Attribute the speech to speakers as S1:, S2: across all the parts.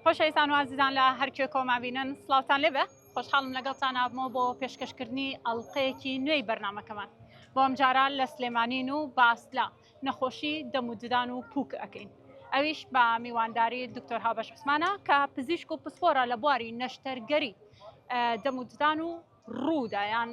S1: خۆشەویستان و ئازیزان لە هەر کوێ کۆما بینن سڵاوتان لێبێ خۆشحاڵم لەگەڵتان ئابمەوە بۆ پێشکەشکردنی ئەڵلقەیەکی نوێی بەرنمەکەمان بۆ ئەم جارە لە سلێمانین و باس لە نەخۆشی دەم و ددان و پووک ئەەکەین ئەویش بە میوانداری دکتۆر هاوبەش عوسمانە کە پزیشک و پسپۆرە لە بواری نەشتەرگەری دەم و ددان و ڕوودا یان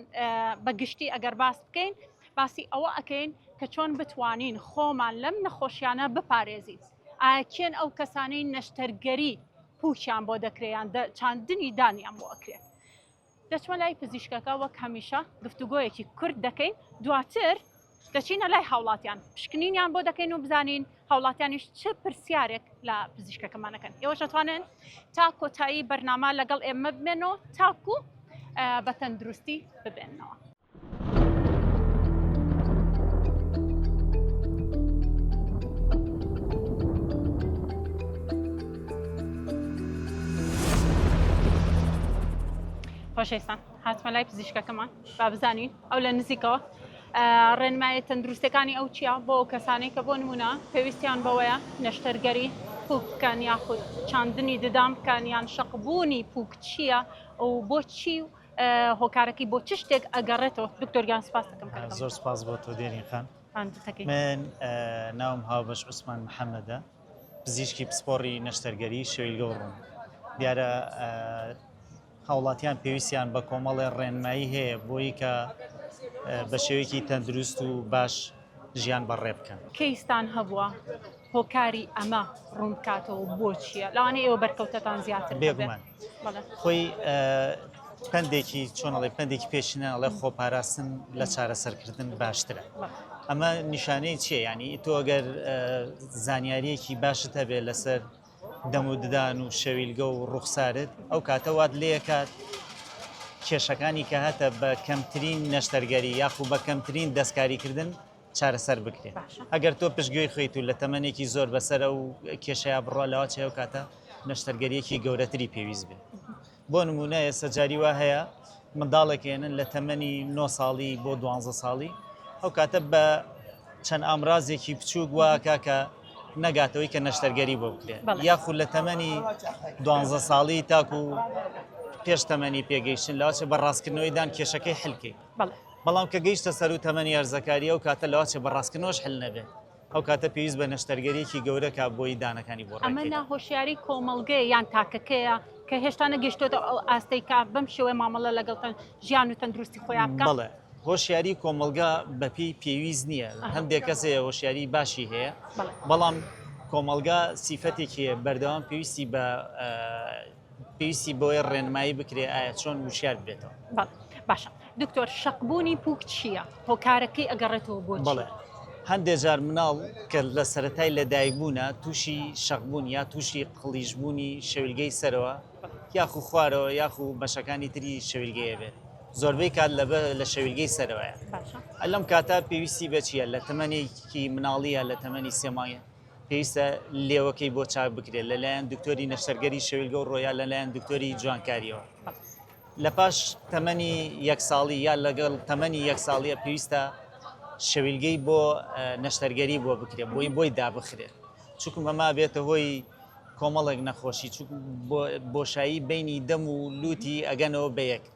S1: بە گشتی ئەگەر باس بکەین باسی ئەوە ئەکەین کە چۆن بتوانین خۆمان لەم نەخۆشیانە بپارێزین ئایا کێن ئەو کەسانەی نەشتەرگەری پوچیان بۆ دەکریان چاندنی دانیان بۆ ئەکرێت دەچمە لای پزیشکەکە وەک هەمیشە گفتوگۆیەکی کورد دەکەین دواتر دەچینە لای هاوڵاتیان پشکنینیان بۆ دەکەین و بزانین هاوڵاتیانیش چ پرسیارێک لە پزیشکەکەمانەکەن ئێوەش دەتوانن تا کۆتایی بەرنامە لەگەڵ ئێمە بمێن و تاکو بە تەندروستی ببێنەوە. خۆشەویستان هاتمە لای پزیشکەکەمان با بزانین ئەو لە نزیکەوە ڕێنمایە تەندروستەکانی ئەو چیە بۆ ئەو کەسانەی کە بۆ نمونە پێویستیان بەوەیە نەشتەرگەری پوک بکەن یاخود چاندنی ددان بکەن یان شەقبوونی پوک چییە و بۆچی و هۆکارەکەی بۆ چ شتێک ئەگەڕێتەوە دکتۆرگیان سپاس دەکەم زۆر سپاس بۆ تۆ
S2: دێرین خان من ناوم هاوبەش عوسمان محەممەدە پزیشکی پسپۆڕی نەشتەرگەری شەویلگە و ڕوون دیارە هاوڵاتیان پێویستیان بە کۆمەڵێ ڕێنمایی هەیە بۆی کە بە شێوەیەکی تەندروست و باش ژیان بەڕێ بکەن. کەیستان هەبووە
S1: هۆکاری ئەمە ڕوون بکاتەوە و بۆ چییە؟ لەوانەیە ئێوە بەرکەوتەتان زیاتر بێت. بێگومان. بەڵێ.
S2: خۆی پەندێکی چۆن ئەڵێ پەندێکی پێشینە ئەڵێ خۆپاراستن لە چارەسەرکردن باشترە. ئەمە نیشانەی چییە؟ یانی تۆ ئەگەر زانیارییەکی باشت هەبێ لەسەر دەم و ددان و شەویلگە و ڕوخسارت ئەو کاتە وات لێکات کێشەکانی کە هەتە بە کەمترین نەشتەرگەری یاخو بە کەمترین دەستکاریکردن چارەسەر بکرێت ئەگەر تۆ پشتگوێی خویت و لە تەمەێکی زۆر بەسەر و کێشەیە بڕە لەوا چێو کاتە نەشتەرگەریەکی گەورەتری پێویست بێت بۆ نموونە ئێستا جاری وا هەیە منداڵێک هێنن لە تەمەنی نۆ ساڵی بۆ دوانزە ساڵی ئەو کاتە بە چەند ئامرازێکی بچووک واکە کە نەگاتەوەی کە نەشتەرگەری بۆ بکرێت بەڵێ. یاخود لە تەمەنی دوانزە ساڵی تاکو پێش تەمەنی پێگەیشتن لاچە بە ڕاستکردنەوەی دان کێشەکەی حلکەی بەڵێ بەڵام کە گەیشتە سەر و تەمەنی هەرزەکاری ئەو کاتە لەواچە بە ڕاستکردنەوەش حل نەبێت ئەو کاتە پێویست بە نەشتەرگەریەکی گەورە کا بۆی دانەکانی بۆ ڕێککەین. ئەمە ناهۆشیاری
S1: کۆمەڵگەیە یان تاکەکەیە کە هێشتا نەگەشتۆتە ئەو ئاستەی کە بەم شێوەیە مامەڵە لەگەڵ ژیان و تەندروستی خۆیان بکات؟ بەڵێ، هۆشیاری
S2: کۆمەڵگە بە پێی پێویست نییە، هەندێک کەس هەیە هۆشیاری باشی هەیە، بەڵام کۆمەڵگە سیفەتێکی هەیە بەردەوام پێویستی بە پێویستی بەوەیە ڕێنمایی بکرێ ئایا چۆن وشیار بێتەوە باشە
S1: دکتۆر شەقبوونی پوک چییە هۆکارەکەی ئەگەڕێتەوە بۆ بڵێ هەندێک
S2: جار مناڵ کە لە سەتای لەدایکبوونا تووشی شەقبوون یا تووشی قڵیشبوونی شەویلگەی سەرەوە یاخو خوارەوە یاخو بەشەکانی تری شەویلگەیە بێت زۆربەی کات لە لە شەویلگەی سەرەوەیە ئەلم کاتا پێویستی بەچیە لە تەمەێکی مناڵیە لە تەمەنی سێمایە پێویستە لێوەکەی بۆ چاک بکرێت لەلایەن دکتۆری نەشتەرگەری شەویلگە و ڕۆیا لەلایەن دکتۆری جوانکاریەوە لە پاش تەمەنی یەک ساڵی یا لەگەڵ تەمەنی یەک ساڵیە پێویستە شەویلگەی بۆ نەشتەرگەری بۆ بکرێت بۆی بۆی دابخرێت چکم ئەما بێتە هۆی کۆمەڵێک نەخۆشی بۆشایی بینی دەم و لوتی ئەگەنەوە بە یەک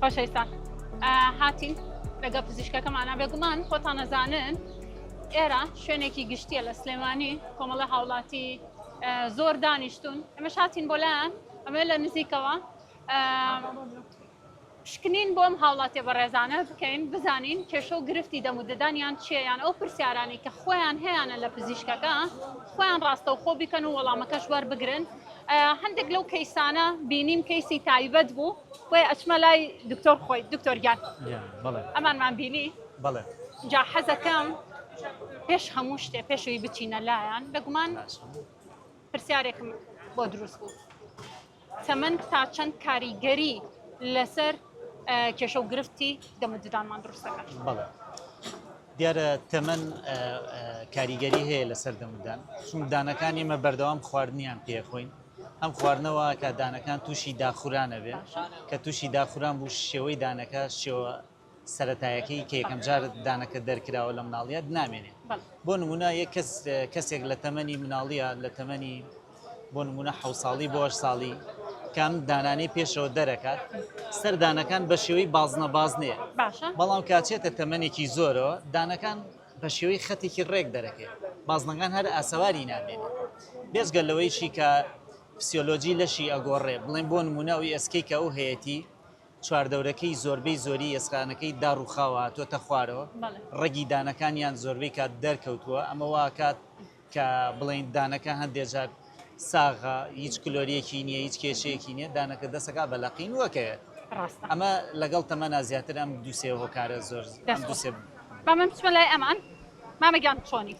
S1: خۆشەویستان هاتین لەگە پزیشکەکەمانە بێگومان خۆتان نەزانن ئێرە شوێنێکی گشتیە لە سلێمانی کۆمەڵە هاوڵاتی زۆر دانیشتون ئەمە شاتین بۆ لایەن ئەمە لە نزیکەوە پشکنین بۆم هاوڵاتیە بەڕێزانە بکەین بزانین کێشە و گرفتی دەم و ددانیان چیە یان ئەو پرسیارانی کە خۆیان هەیانە لە پزیشکەکە خۆیان ڕاستەوخۆ بیکەن و وەڵامەکەش وەربگرن هەندێک لەو کەیسانە بینیم کەیسی تایبەت بوو بۆیە ئەچمە لای دکتۆر خۆی دکتۆر گیان ئەمانمان بینی بڵێ جا حەزەکەم پێش هەموو شتێ پێشوی بچینە لایەن بەگومان پرسیارێکم بۆ دروست بوو تەمەن تا چەند کاریگەری لەسەر کێشە و گرفتی دەموددانمان دروستەکان بەڵێ
S2: دیارە تەمەن کاریگەری هەیە لەسەر دەمودان چون دانەکان ئێمە بەردەوام خواردنیان پێخۆین ئەم خواردنەوە کە دانەکان تووشی داخورانە بێ کە تووشی داخوران بوو شێوەی دانەکە شێوە سەرەتایەکەی کە یەکەم جار دانەکە دەرکراوە لە مناڵیت نامێنێ بۆ نمونە یە کەس کەسێک لە تەمەنی مناڵیە لە تەمەنی بۆ نمونە حە ساڵی بۆ ساڵی کام دانانی پێشەوە دەرەکات سەردانەکان بە شێوەی بازنە بازنێ بەڵام کاچێتە تەمەێکی زۆرەوە دانەکان بە شێوەی خەتێکی ڕێک دەرەکەێت بازنەکان هەر ئاسەواری نامێنێت بێزگە لەوەیشی کە فسیۆلۆجی لەشی ئەگۆڕێ بڵێن بۆ نمونە و ئێسکی کە ئەو هەیەی چواردەورەکەی زۆربەی زۆری ئێسقانەکەی داڕووخاوە هاتووەتە خوارەوە، ڕەگی دانەکانیان زۆربەی کات دەرکەوتووە، ئەمە وا ئەکات کە بڵێین دانەکە هەندێک جار ساغە، هیچ کلۆرییەکی نییە، هیچ کێشەیەکی نییە، دانەکە دەست ئەکات بە لەقین و ئەکەوێت. ڕاستە. ئەمە لەگەڵ تەمەنا زیاتر ئەم دوو سێ هۆکارە زۆر ئەم دەست دوو خۆش. سێ. با
S1: من بچمە لای ئەمان. مامە گیان چۆنی؟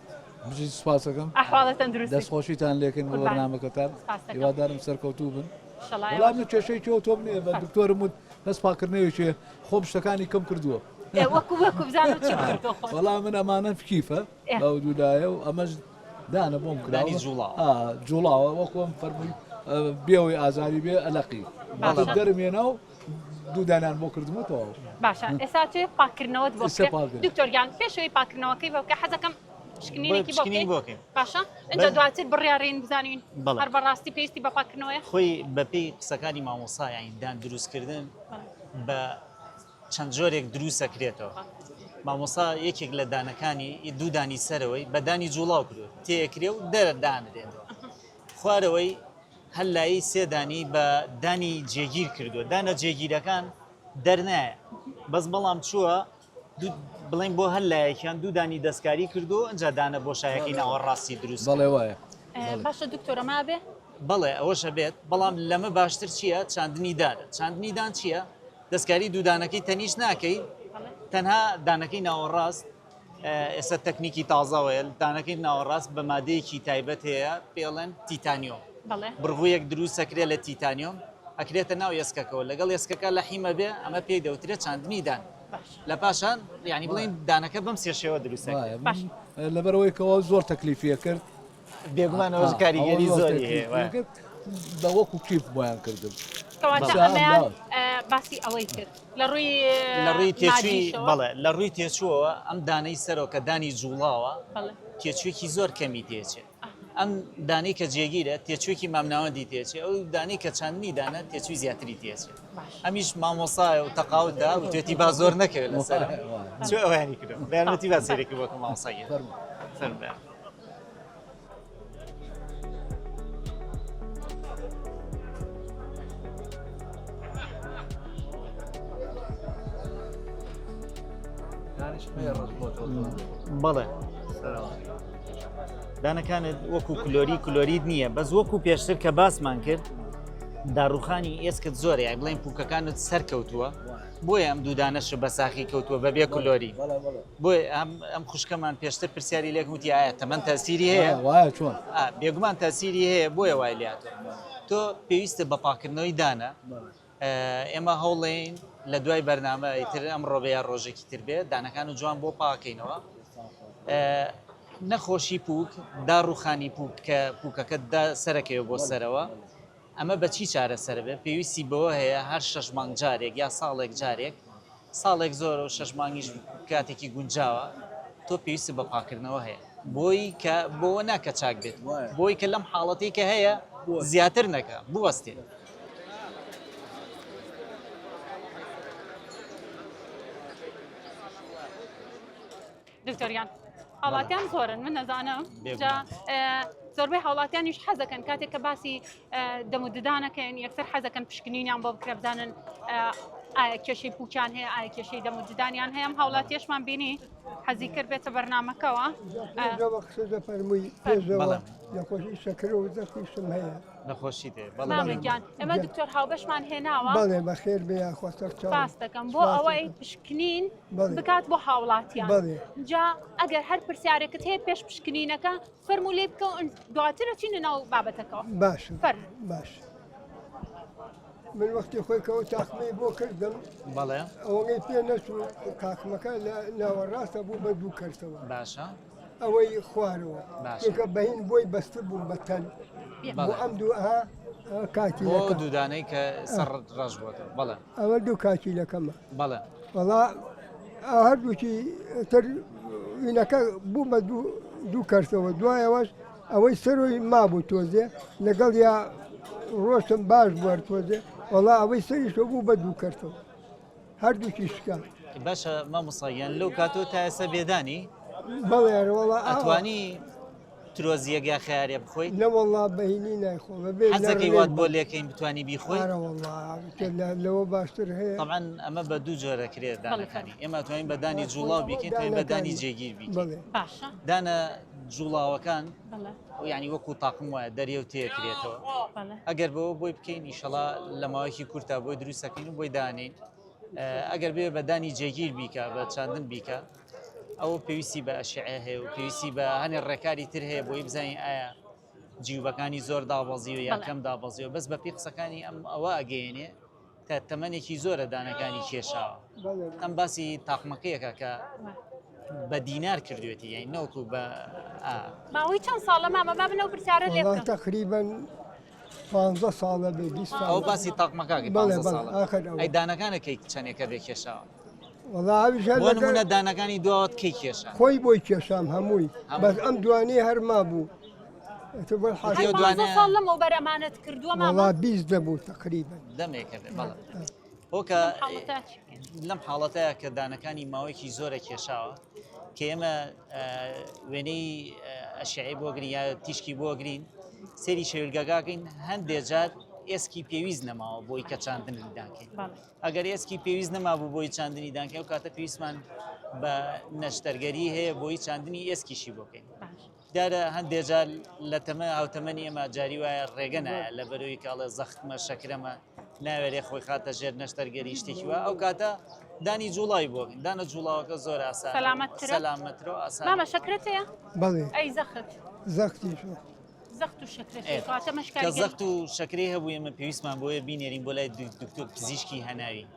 S1: بژیت سوپاس
S3: ئەکەم. ئەحواڵە تەندروستی؟
S1: دەستخۆشیتان لێکەین بۆ
S3: قوربان. بەرنامەکەتان. سپاس ئەکەم. هیوادارم سەرکەوتوو بن. وەڵا من کێشەی تۆ تۆم نیە بە دکتۆرم وت بەس پاکردنەوێکێ خۆم شتەکانی کەم کردووە وەڵا من ئەمانە فکیفە ئەو دوودایە و ئەمەش دانە بۆم کرانی جوڵا جوڵاوە وەکۆم فەرمووی بێەوەی ئازاری بێ ئەلقی دەرمێنا و دوودانان بۆ کردمەوە باشە ئێسا پاکردنەوە
S1: دکتۆریان پێشەوەی پاکردنەوەکەی بەکە حەزەکەم پشکنینێکی بۆ پشکنین بکەین بۆ بکەین باشە ئینجا بەس- دواتر بڕیارین بزانین بەڵێ. هەر بەڕاستی پێویستی بە پاککردنەوەیە خۆی بەپێی
S2: قسەکانی مامۆستا یانی دان دروستکردن بەڵێ. بە چەند جۆرێک دروست دەکرێتەوە بەڵێ. مامۆستا یەکێک لە دانەکانی ئی دوو دانی سەرەوەی بە دانی جوڵاو کرد تێکرێ و دەردانرێتەوە خوارەوەی هەر لایی سێ دانی بە دانی جێگیر کردووە دانە جێگیرەکان دەرنایە بەس بەڵام چووە بڵێن بۆ هەر لایەکیان دوو دانی دەستکاری کردو ئەجا دانە بۆشایەکەی ناوەڕاستی دروست بەڵێ وایە
S3: باشە دکتۆرە
S1: مابێ بەڵێ ئەوەشە
S2: بێت بەڵام لەمە باشتر چییە چاندنی دار چاندنی دان چییە دەستکاری دوودانەکەی تەنیش ناکەی تەنها دانەکەی ناوەڕاست ئێستا تەکنیکی تازاوەیل دانەکەی ناوەڕاست بە مادەیەکی تایبەت هەیە پێڵێن تیتانیۆم بڕغویەک دروستەکرێ لە تیتانیۆم ئەکرێتە ناو ئێسکەکەەوە لەگەڵ ئێسکەکە لە حیمە بێ ئەمە پێی دەوترێت چاندنی دان لە پاشان یعنی بڵێن دانەکە بەم سێ شێوە دروست لەبەرەوەی
S3: کەەوە زۆر تەکلیفیە کرد بێگومانەوە
S2: کاریگەری زۆری هەیە بە وەکو
S3: کیف بۆیان کردن باسی ئەوەی کرد لە
S1: ڕووی لە ڕووی
S2: تێچوی بەڵێ لە ڕووی تێچووەوە ئەم دانەی سەرۆکە دانی جوڵاوە تێچوێکی زۆر کەمی تێچێت ئەم دانەی کە جێگیرە تێچووێکی مامناوەندی تێچێ ئەو دانەی کە چاندنی دانە تێچووی زیاتری تێچێ ئەمیش مامۆسایە و تەقاوت دا و توێتی با زۆر نەکەوێت لەسەر چ ئەوانی کردم بەیانەتی با سێرێکی بۆکە مامۆسایە فەرموویان بەڵێ دانەکانت وەکو کلۆری کلۆریت نییە بەس وەکو پێشتر کە باسمان کرد داڕوخانی ئێسکت زۆر یای بڵێن پوکەکانت سەرکەوتووە بۆی ئەم دوودانەش بە ساخی کەوتووە بەبێ کلۆری بۆی ئەم خوشکەمان پێشتر پرسیاری لێک وتی ئایا تەمەەن تاسیری هەیە
S3: بێگومان تاسیری
S2: هەیە بۆیە وای لاتوە تۆ پێویستە بە پاکردنەوەی دانە ئێمە هەوڵێین لە دوای بەرنامە ئیتر ئەمڕۆ بێ یا ڕۆژێکی تر بێ دانەکان و جوان بۆ پاکەینەوە نەخۆشی پوک دا ڕوخانی پوک کە پوکەکە دا سەرەکەوە بۆ سەرەوە ئەمە بەچی چارەسەر بێ پێویستی بەوە هەیە هەر شەش مانگ جارێک یا ساڵێک جارێک ساڵێک زۆرە و شەش مانگیش کاتێکی گونجاوە تۆ پێویستت بە پاکردنەوە هەیە بۆی کە بۆوە ناکە چاک بێت بۆی کە لەم حاڵەتی کە هەیە زیاتر نەکە بوەستێت
S1: دکتۆر گیان هاوڵاتیان زۆرن من نەزانم جا زۆربەی هاوڵاتیانیش حەزەکەن کاتێک کە باسی دەموددانەکەن یەکسەر حەزەکەن پشکنینیان بۆ بکرێ بزانن ئایا کێشەی پوچان هەیە ئایا کێشەی دەموددانیان هەیەم هاوڵاتیشمان بینی حەزی کرد بێتە بەرنمەکەەوە
S4: فەرمووی نەخۆشی شەکر و دەخیشم هەیە نەخۆشی
S2: دێگیان ئەمە
S1: دکتۆر هاوبەشمان هێناوە بەڵێ بەخێر بێ
S4: یاخۆ سەر دەکەم بۆ
S1: ئەوەی پشکنین بکات بۆ هاوڵاتیان جا ئەگەر هەر پرسیارێکت هەیە پێش پشکنینەکە فەرمو لێ بکە دواترە چینە ناو بابەتەکەەوە باش فەر
S4: باش. من وەختی خۆی کەەوە تاقمەی بۆ کردم بەڵێ ئەوەی
S2: پێ
S4: نەچوو کاکمەکە لە ناوەڕاستە بوو بە دوو کەسەوە باشە
S2: ئەوەی
S4: خوارەوە چونکە بەین بۆی بەستبووم بە تەل بۆ ئەم دوو ئەها کاتی بۆ دوودانەی
S2: کە سەر ڕەش بۆت بەڵێ ئەوە دوو کاتی
S4: لەکەمە بەڵێ وەڵا هەردووکی تر وینەکە بوو بە دوو دوو کەرتەوە دوایەوەش ئەوەی سەرۆی مابوو تۆزێ لەگەڵ یا ڕۆشتم باش بوار تۆزێ وەڵا ئەوەی سەریشۆ بوو بە دوو کەرتەوە هەردووکی شکا باشە
S2: مامۆساگیان لەو کاتۆ تا ئێستا بێدانی بەڵێرەوەڵا
S4: ئەتوانی
S2: ترۆزیەک یا خارێ بخۆی نەوەڵا بەینی
S4: نایخۆ بەبێزەکەی وات بۆ
S2: لەکەین بتانی بیخۆی
S4: لەوە باشتر هەیە ئەمان ئەمە بە دوو
S2: جۆرە کرێت دانەکانی ئێمە توانین بەدانی جوڵاو بیکەین بەدانی جێگیر بی دانە جوڵاوەکان یانی وەکو تاقم وایە دەریەو تێکرێتەوە ئەگەر بەوە بۆی بکەین ئیشەڵا لە ماوەیەکی کورتا بۆی دروستەکەین و بۆی دانین ئەگەر بێ بەدانی جێگیر بیکە بە چاندن بیکە ئەو پێویستی بە ئەشعێ هەیە و پێویستی بە هەنێ ڕێکاری تر هەیە بۆی بزانین ئایا جیوبەکانی زۆر دابەزی و یاکەم دابەزی و بەس بە پێی قسەکانی ئەم ئەوە ئەگەێنێ کە تەمەنێکی زۆرە دانەکانی کێشاوە ئەم باسی تاقمەکەیەکە کە بە دینار کردوێتی یای نەوتو بە ماوەی
S1: چەند ساڵە مامە با بنەو پرسیارە لێ تقریبن
S4: پانزە ساڵە بێ ئەو باسی
S2: تاقمەکە دانەکانە کەی چەندێکە بێ کێشاوە وەڵاویژە دانەکانی دوات کەی کێشە خۆی بۆی کێشام
S4: هەمووی بەس ئەم دوانی هەرما بوو ساڵ لەمەوبەر
S1: ئەمانەت کردووە ماڵات بیست دەبوو
S4: تقریبن دەمێکە
S2: هۆکە لەم حاڵەتەیە کە دانەکانی ماوەیەکی زۆرە کێشاوە کە ئێمە وێنەی ئەشعی بۆگرین یا تیشکی بۆگرین سری شەویلگەگاگەین هەندێک جار ئێسکی پێویست نەماوە بۆی کە چاندنی دانکەین ئەگەر ئێسکی پێویست نەمابوو بۆی چاندنی دانکە و کاتە پێویستمان بە نەشتەرگەری هەیە بۆی چاندنی ئێسکیشی بۆکەین دیارە هەندێ جار لە تەمە هاوتەمەنی ئێمە جاری وایە ڕێگە نایە لە بەروی کاڵێ زەختمە شەکرەمە ناوێرێ خۆی خاتە ژێر نەشتەر گەری شتێکی وە ئەو کاتە دانی جوڵای بۆ دانە جوڵاوەکە زۆر ئاسان سەلامەت کرا. سەلامەترە و ئاسان مامە شەکرت
S1: هەیە بەڵێ ئەی زەخت
S4: زەختی
S1: شو زەخت و شەکرت هەیە کاتە
S4: کە
S1: مەشکاریگەری زەخت
S2: و شەکری هەبوو ئێمە پێویستمان بۆیە بینێرین بۆ لای دکتۆر پزیشکی هەناوی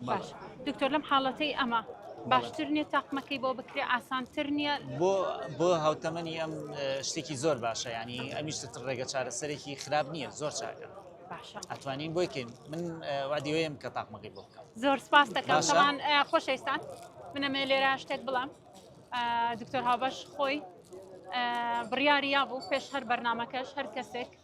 S2: باش
S1: دکتۆر لەم حاڵەتەی ئەمە باشتر نیە تاقمەکەی بۆ بکرێ ئاسانتر نییە بۆ بۆ
S2: هاوتەمەنی ئەم شتێکی زۆر باشە ینی ئەمیشتت ڕێگە چارەسەرێکی خراپ نییە زۆر چاکە ئەتوانین بۆیکەین من وادیوەیەم کە تاقمەکەی بۆ بکەم زۆر سپاس دەکەمان
S1: خۆشەویستان منەمێ لێرە شتێک بڵام دکتۆر هاوبەش خۆی بڕیاریا بوو پێش هەر بەرنمەکەش هەر کەسێک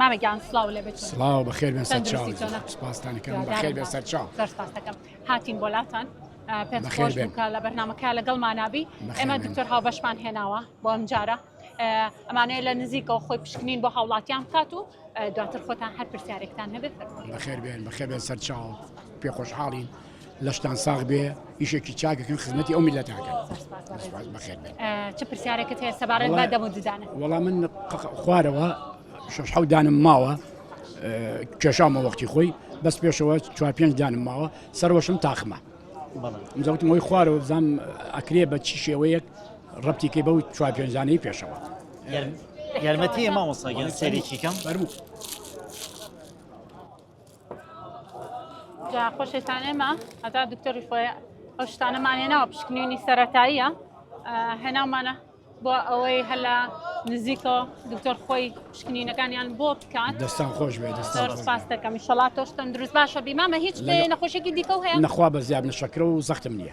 S1: مامە گیان سلااو لێ بێت سلااو بە خێر
S5: سپاستانەکەم
S1: بە خێر بێ
S5: سەرچاو سەرپاستەکەم
S1: هاتین بۆلاتان پێخۆش بکە لە بەرنمەکە
S5: لەگەڵ
S1: مانابی ئێمە دکتۆر هاو
S5: بەشمان هێناوە
S1: بۆ ئەم جارە ئەمانەیە لە نزیکەوە خۆی پشکنین بۆ هاوڵاتیان بکات و دواتر خۆتان هەر پرسیارێکتان هەبێت بەخێر بێن بەخێ بێن
S5: سەرچاو پێخۆشحاڵین لەشتان ساغ بێ ئیشێکی چاکەکەن خزمەتی ئەو میلەتاکەن چ پرسیارەکەت هەیە سەبارەت
S1: بە دەمە ددانە وەڵا من
S5: خوارەوە شش حەو دانم ماوە کێشامە وەختی خۆی بەس پێشەوە چوار پێنج دانم ماوە سەرۆشم تاخمە زەوتم هۆی خوارەوە بزانام ئەکرێ بە چی شێوەیەک ڕەتیکەی بەو چوار پێنجانەی پێشەوە یارمەتی
S2: مامۆساگەن سەرێکیکەم فەرموو.
S1: جا خۆشێتان ئێمە هەتا دکتۆری خۆی ئەو شتانەمانێ ناوە پشکنیونی سەتاییە هێناومانە بۆ ئەوەی هەلا نزیکەوە دکتۆر خۆی پشکنینەکانیان بۆ بکات دەستان خۆش بێت
S5: دەستپاس دەکەم
S1: شڵا تۆش تەندروست باشە بیمامە هیچ نەخۆشێکی دیکە هەیە نەخوا بە زیاد نشەکرە
S5: و زەختم نییە.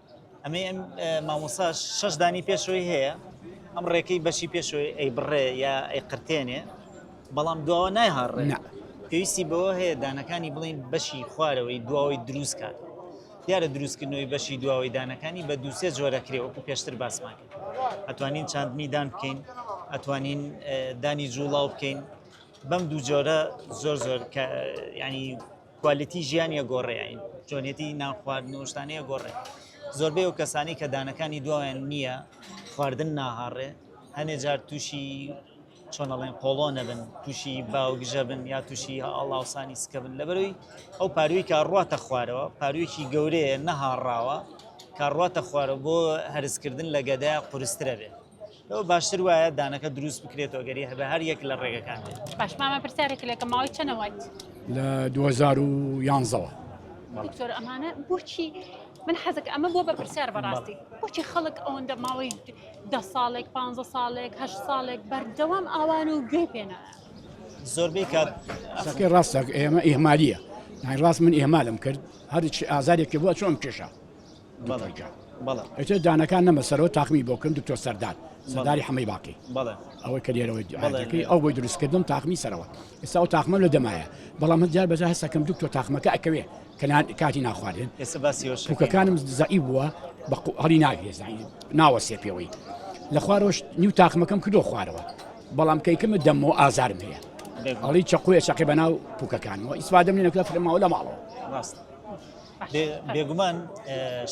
S2: ئەمەی ئەم مامۆسا شەش دانی پێشەوەی هەیە ئەم ڕێکەی بەشی پێشەوەی ئەی بڕێ یا ئەی قرتێنێ بەڵام دواوە نایهاڕێ پێویستی بەوە هەیە دانەکانی بڵین بەشی خوارەوەی دواوەی دروست کات دیارە دروستکردنەوەی بەشی دواوەی دانەکانی بە دووسێ جۆرەکرێ وەکو پێشتر باسمان کرد ئەتوانین چاندنی دان بکەین ئەتوانین دانی جوڵاو بکەین بەم دوو جۆرە زۆر زۆر ینی کوالیتی ژیانی ئەگۆڕێ ئەین جۆنێتی نان خواردن و شتانی ئەگۆڕێ زۆربەی ئەو کەسانی کە دانەکانی دوایان نییە خواردن ناهاڕێ هەنێ جار تووشی چۆنەڵێن قۆڵۆ نەبن تووشی باوگژە بن یا تووشی ئاڵاوسانی سکە بن لەبەروی ئەو پاروی کە ڕاتە خوارەوە پارویەکی گەورەیە نەهاڕاوە کە ڕاتە خوارە بۆ هەرسکردن لە گەدە قورسترە بێت لەوە باشتر وایە دانەکە دروست بکرێتەوە گەری هەبە هەر یەک لە ڕێگەکان بێت باش مامە پرسیارێکی
S1: لەکە ماوەی چەنە
S5: وایت لە 2011ەوە دکتۆر
S1: ئەمانە بۆچی من حەزەکە ئەمە بۆ بە پرسیار بەڕاستی بۆچی خەڵک ئەوەندە ماوەی ده ساڵێک پ ساڵێک هە ساڵێک بەردەوام ئاوان و گوێ پێێنە زۆربەی
S2: کات ئەسەکەی ڕاستەک
S5: ئێمە ئێمالیە نای ڕاست من ئێمالم کرد هەرچی ئازارێکی بۆ چۆن کێشە دکتۆرگیان بەڵێ ئەیتر دانەکان نەمە سەرەوە تاقمی بۆ کردم دکتۆر سەردار سەرداری حەمەی باقی بەڵێ ئەوەی کە لێرەوەی دیعاەکەی ئەو بۆی دروستکردم تاقمی سەرەوە ئێستا و تاقمە لە دەمایە بەڵام هەند جار بەجا هەسەکەم دکتۆر تاقمەکە ئەکەوێ کەنان کاتی ناخواردن ئێستا باسی شوکەکانم زەعی بووە بە هەڵی ناوێ ناوە سێ پێوەی لە خوارۆش نیو تاقمەکەم کردو خوارەوە بەڵام کەیکەمە دەمەوە ئازارم هەیە ئەڵی چقوێ شەقی بەناو پوکەکانەوە ئیسفادەم لێ نەکە فرماوە لە ماڵەوە ڕاست
S2: بێگومان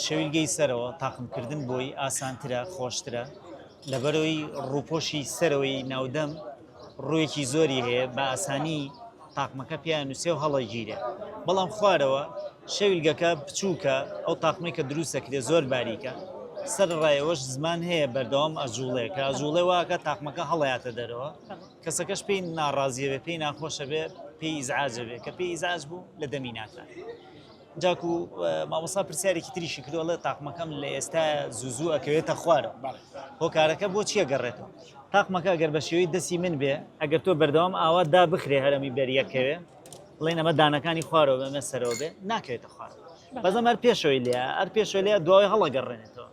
S2: شەویلگەی سەرەوە تاقمکردن بۆی ئاسانترە خۆشترە لەبەرەوەی ڕووپۆشی سەرەوەی ناودەم ڕوویەکی زۆری هەیە بە ئاسانی تاقمەکە پێیان نووسێ و هەڵەگیرە بەڵام خوارەوە شەویلگەکە بچووکە ئەو تاقمەی کە دروستەکرێ زۆر باریکە سەر ڕایەوەش زمان هەیە بەردەوام ئەجوڵێکە زوڵێ واکە تاقمەکە هەڵاتە دەرەوە کەسەکەش پێی ناڕازیە بێ پێی ناخۆشە بێ پێی ئیزعاجە بێ کە پێی ئیزعاج بوو لە دەمی ناکات جاکو مامۆسا پرسیارێکی تریشی کردوڵێ تاقمەکەم لە ئێستا زوزوو ئەکەوێتە خوارە هۆکارەکە بۆ چیە گەڕێتەوە تاقمەکە گەر بە شێوەی دەسی من بێ ئەگەر تۆ بەردەوام ئاوا دا بخرێ هەرمی بەریەکەوێ بڵێن ئەمە دانەکانی خوارەوە بەمە سەرەوە بێ ناکەوێتە خوار بەزەم هەر پێشەوەی لێ ئەر پێشەوە لێ دوای هەڵەگەڕێنێتەوە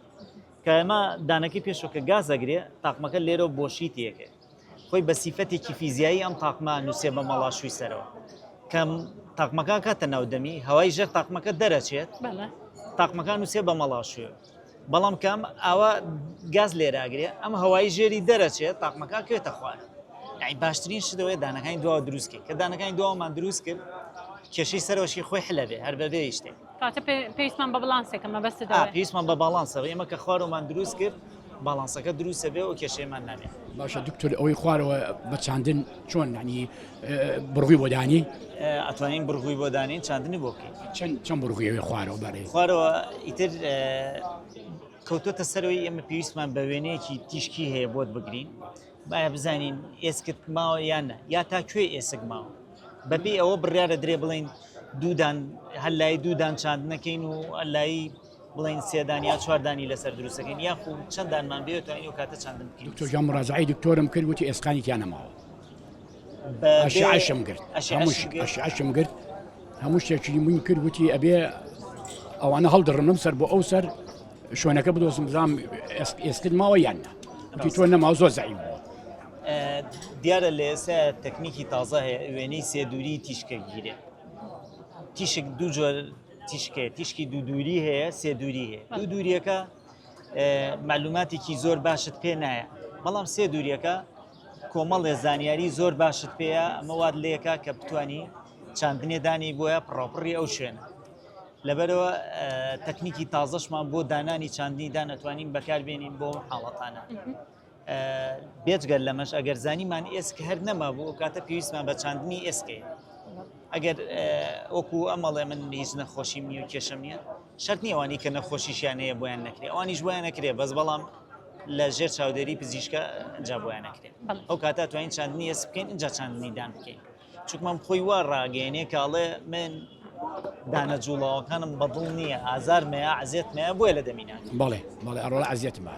S2: کە ئەمە دانەکەی پێشەوە کە گازەگرێ تاقمەکە لێرە بۆشی تێکێت خۆی بە سیفەتێکی فیزیایی ئەم تاقمە نووسێ بە مەڵاشووی سەرەوە کەم تاقمەکان کاتە ناودەمی هەوای ژەر تاقمەکە دەرەچێت تاقمەکان نووسێ بە مەڵاشوێ بەڵام کەم ئاوا گاز لێراگرێ ئەم هەوای ژێری دەرەچێت تاقمەکان کوێتە خوارد یعنی باشترین شتەوەی دانەکانی دوا دروستکە کە دانەکانی دوامان دروست کرد کێشەی سەرۆشی خۆی حلەبێ هەر بەبێ شتێک کاتە پێویستمان
S1: بە بڵانسێکە مەبەست دەڵێ. ئا پێویستمان بە باڵانسە
S2: ئێمە کە خوارومان دروست کرد باڵانسەکە دروستە بێ و کێشەیمان نابێ. باشە دکتۆر ئەوەی
S5: خوارەوە بە چاندن چۆن نانی بڕوی بۆ دانی ئەتوانین بڕوی
S2: بۆ دانین چاندنی بۆ بکەین چەند چەند بڕویەوەی
S5: خوارەوە بەرێ خوارەوە ئیتر
S2: کەوتۆتە سەرەوەی ئێمە پێویستمان بە وێنەیەکی تیشکی هەیە بۆت بگرین باە بزانین ئێسکت ماوە یان یا تا کوێ ئێسک ماوە بە پێی ئەوە بڕیار ئەدرێ بڵێین دوو دان هەر لای دوو دان چاندنە کەین و هەر لایی بڵێین سێ دان یا چوار دانی لەسەر دروست دەکەین یاخو چەند دانمان بێت توانین ئەو کاتە چاندن بکەین دکتۆر جان مراجعەی دکتۆرم
S5: کرد وتی ئێسقانی تیا نەماوە بە بێ- ئەشعەشم گرت ئەشعەشم هەمووش گرت. ئەشعەشم گرت هەموو شتێکی من کرد وتی ئەبێ ئەوانە هەڵدڕم لەم سەر بۆ ئەو سەر شوێنەکە بدۆزم بزانم ئێسک- ئێسکت ماوە یان نا وتی تۆ نەماوە زۆر زەعیف بووە
S2: دیارە لە ئێستا تەکنیکی تازە هەیە وێنەی سێدووری تیشکە گیرێ تیشک دوو جۆر تیشکێ تیشکی دوو دووری هەیە سێدووری هەیە دوو دووریەکە معلوماتێکی زۆر باشت پێ نایە بەڵام سێ دووریەکە کۆمەڵێ زانیاری زۆر باشت پێەیە ئەمە واد لەکە کە بتانی چاندنێدانی بۆیە پڕۆپڕی ئەو شوێنە لەبەرەوە تەکنیکی تازەشمان بۆ دانانی چاندنی دانەتوانین بەکاربێنین بۆ حاڵەتانە. بێجگە لەمەش ئەگەر زانیمان ئێسک هەر نەمابوو ئەو کاتە پێویستمان بە چاندنی ئێسکەیە ئەگەر وەکو ئەمەڵێ من هیچ نەخۆشی نیە و کێشم نیە شەرت نیێوانی کە نەخۆشیشیان هەیە بۆیان نەکرێ ئەوانیش بۆیان نەکرێ بەس بەڵام لە ژێر چاودێری پزیشکە ئەجا بۆیان نەکرێت ئەو کاتا توانین چاندنی ئێس بکەین اینجا چاندنیدان بکەین چونکە مام خۆی وا ڕاگەیەنێ کە ئەڵێ من دانە جوڵاوەکانم بەدڵ نییە ئازار مەیە عزیێت مەیە بۆیە لە دەمینە بەڵێ بەڵێ ئەڕۆڵە
S5: عزیێتمە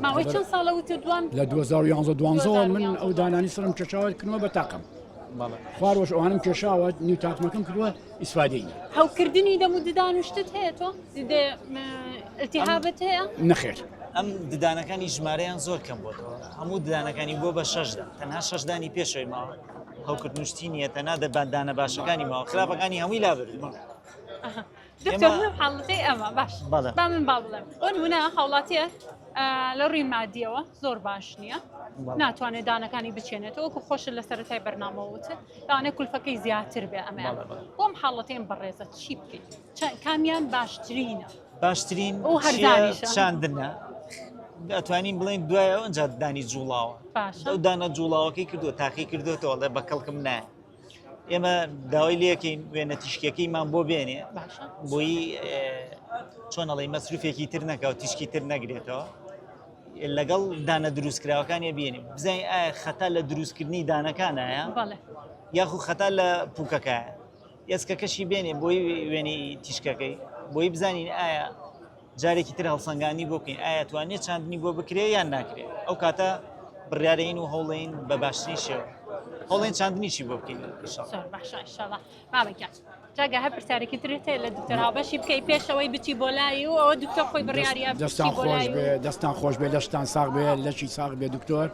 S5: ماوەی چەند
S1: ساڵە وتە دوان لە 2011
S5: دوانزەوە من ئەو دانانی سرم کێشاوە کنەوە بە تاقم خوارەوەش ئەوانم کێشاوە نیو تاقمەکەم کردووە ئیسفادەی هەوکردنی دەم
S1: و ددان شتت هەیە تۆ التهابت هەیە نەخێر ئەم
S5: ددانەکانی
S2: ژمارەیان زۆر کەم بۆتەوە هەموو ددانەکانی بۆ بە شەشدا تەنها شەشدانی پێشەوەی ماوە هەوکردنشتی نیە تەنا دە باندانە باشەکانی ماوە خراپەکانی هەمووی لا بێت حڵەکەی
S1: ئەمە باش با من با بڵێم بۆ نمونە هاوڵاتیە لە ڕووی مادیەوە زۆر باش نییە ناتوانێت دانەکانی بچێنێتەوە کە خۆش لە سەرەتای بەرنامەوەوت دانێ کولفەکەی زیاتر بێ ئەمە بۆم حاڵەتێن بەڕێزە چی بکەیت کامیان باشترینە باشترین
S2: ئەو هەر چیە دانیشە.
S1: چاندنە
S2: ئەتوانین بڵێن دوای ئەو ئەنجا دانی جوڵاوە باشە. ئەو دانە جوڵاوەکەی کردو تاقی کردوێتەوە لە بە کەڵکم نایە ئێمە داوای لەکەین وێنە تیشکەکەیمان بۆ بێنێ باشە بۆی چۆنەڵی مەسروفێکی تر نەکە و تیشکی تر نەگرێتەوە لەگەڵ دانە دروستکراوەکانی بینیم بزانین ئایا خەتا لە دروستکردنی دانەکانایە بەڵێ یاخو خەتا لە پوکەکە ئێسکەکەشی بێنێ بۆی وێنەی تیشکەکەی بۆی بزانین ئایا جارێکی تر هەڵسەنگانی بۆ بکەین ئایا توانێت چاندنی بۆ بکرێ یان ناکرێت ئەو کاتە بڕارین و هەوڵین بە باشترین شێوە هەڵێن چاندنیشی بۆ بکەین جاگە هەر
S1: پرسیارێکی ترێتێ لە دکتەر هاوبەشی بکەی پێشەوەی بچی بۆ لای و ئەوە دکتۆر خۆی بڕیاریە دەستان خۆش بێ
S5: دەستان خۆش بێ لەشتان ساغ بێ لەشی ساغ بێ دکتۆر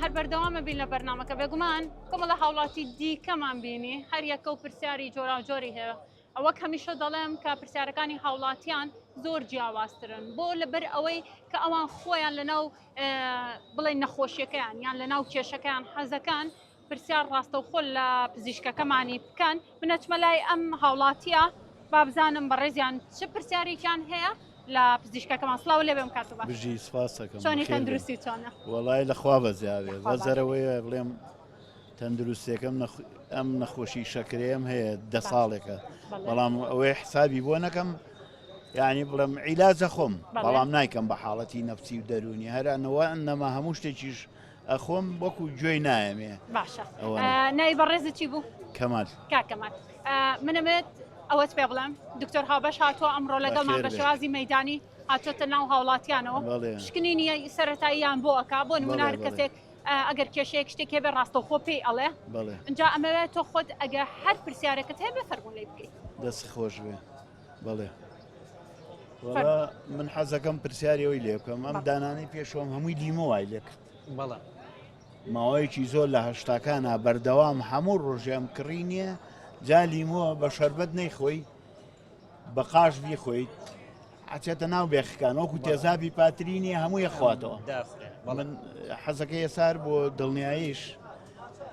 S1: هەر بەردەوامە بین لە بەرنمەکە بێگومان کۆمەڵە هاوڵاتی دیکەمان بینی هەر یەکە و پرسیاری جۆراوجۆری هەیە ئەوەک هەمیشە دەڵێم کە پرسیارەکانی هاوڵاتیان زۆر جیاوازترن بۆ لەبەر ئەوەی کە ئەوان خۆیان لەناو بڵێن نەخۆشیەکەیان یان لەناو کێشەکەیان حەزەکان پرسیار ڕاستەوخۆ لە پزیشکەکەمانی بکەن من ئەچمە لای ئەم هاوڵاتیە بابزانم بەڕێزیان چ پرسیارێکیان هەیە لە پزیشکەکەمان سلااو لێ بم کاتەوە بژی سپاسەکەنی
S6: تەندروستی
S1: چۆنە وڵای لەخوا
S6: بەزیاێ بەزەرەوەیە بڵێم تەندروستێکم ئەم نەخۆشی شەکرێم هەیە دە ساڵێکە بەڵام ئەوەی حسابی بۆ نەکەم یعنی بڵم عیلاجە خۆم بەڵام نایکەم بە حاڵەتی نەفسی و دەرونی هەرانەوە ئەنەما هەموو شتێکیش ئەخۆم وەکو گوێی نایەمێ باشە
S1: نای بەڕێزت چی بوو کەمات کاکەمات منەمێت ئەوەت پێ بڵێم دکتۆر هاوبەش هاتووە ئەمڕۆ لەگەڵمان بە شێوازی مەدانی هاتۆتە ناو هاوڵاتیانەوە شکنینی سەتاییان بۆ ئەک بۆ نمونار کەسێک ئەگەر کێشەیەک شتێک هەبێ ڕاستەوخۆ پێی ئەڵێ ئەجا ئەمەوێت تۆ خۆت ئەگە هەر پرسیارەکەت هەیە بە فەرمونەی بکەیت دەست خۆش بێ
S6: بەڵێ وەڵا من حەزەکەم پرسیاری ئەوی لێ بکەم ئەم دانانەی پێشۆم هەمووی لیمۆ وای لێ کرد بەڵێ ماوەیەکی زۆر لە هەشتاکانە بەردەوام هەموو ڕۆژێم کڕی نییە جا لیمۆ بە شربەت نەیخۆی بە قاش بیخۆیت ئەچێتە ناو بێخەکان وەکو تێزابی پاترینی هەموو یەخواتەوە من حەزەکە یەسار بۆ دڵنیایش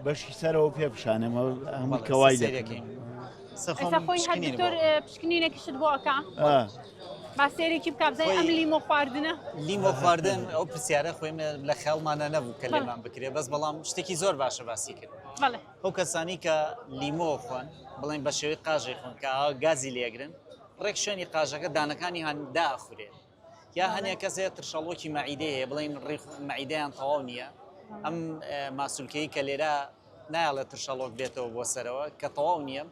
S6: بەشی سەرەوە پێ پیشانەمە هەموو کەوای دەکەین
S1: پشکنینێکیشت بۆ ئەکا باسێرێکی بک بزای ئەم لیمۆ خواردنە لیمۆ خواردن
S2: ئەو پرسیارە خۆی لە خەڵمانە نەبوو کە لێمان بکرێ بەس بەڵام شتێکی زۆر باشە باسی کرد ئەو کەسانی کە لیمۆ خۆن بڵێن بە شێوەی قاژێ خۆن کە گازی لێگرن ڕێک شوێنی قاژەکە دانەکانی هەندا ئەخورێت یا هەنێ کەسێ ترشەڵۆکی مەعیدەی هەیە بڵین ڕیخ مەعیدەیان تەواو نییە ئەم ماسولکەی کە لێرە نایڵێ ترشەڵۆک بێتەوە بۆ سەرەوە کە تەواو نییە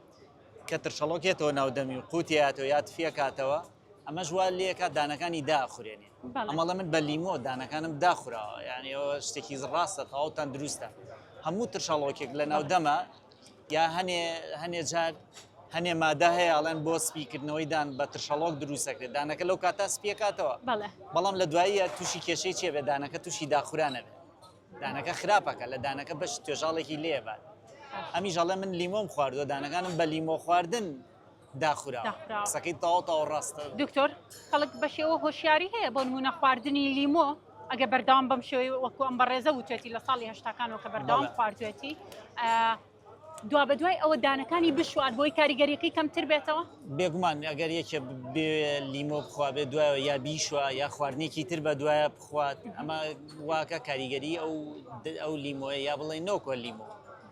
S2: کە ترشەڵۆکێتەوە ناودەمی و قوتیاتەوە یا تفیە کاتەوە ئەمەش وا لێکە دانەکانی داخورێنێ ئەمەڵە من بە لیمۆ دانەکانم داخراوە یانەوە شتێکی ڕاستە تەواوتان دروستە هەموو ترشەڵۆکێک لە ناودەمە یا هەنێ هەنێ جار هەنێ مادە هەیە ئەڵێن بۆ سپیکردنەوەی دان بە ترشەڵۆک دروستەکرێت دانەکە لەو کاتا سپیەکاتەوە بەڵام لە دواییە تووشی کێشەی چێ بێ دانەکە تووشی داخورانە بێت دانەکە خراپەکە لە دانەکە بەش توێژاڵێکی لێبات ئەمیش ئەڵێ من لیمۆم خواردوە دانەکانم بە لیمۆ خواردن داخوراوە قسەکەی تەواو تەواو ڕاستە دکتۆر خەڵک
S1: بە شێوە هۆشیاری هەیە بۆ نمونە خواردنی لیمۆ ئەگە بەردەوام بەم شێوەی وەکو ئەم بەڕێزە وتێتی لە ساڵی هەشتاکانەوە کە بەردەوام بەڵێ. خواردوێتی ئا، دوا بە دوای ئەوە دانەکانی بشوات بۆی کاریگەریەکەی کەمتر بێتەوە بێگومان ئەگەر
S2: یەکێ بێ لیمۆ بخوا بێ دوایەوە یا بیشوە یا خواردنێکی تر بە دوایە بخوات ئەمە واکە کاریگەری ئەو ئەو لیمۆیە یا بڵێ نۆکۆ لیمۆ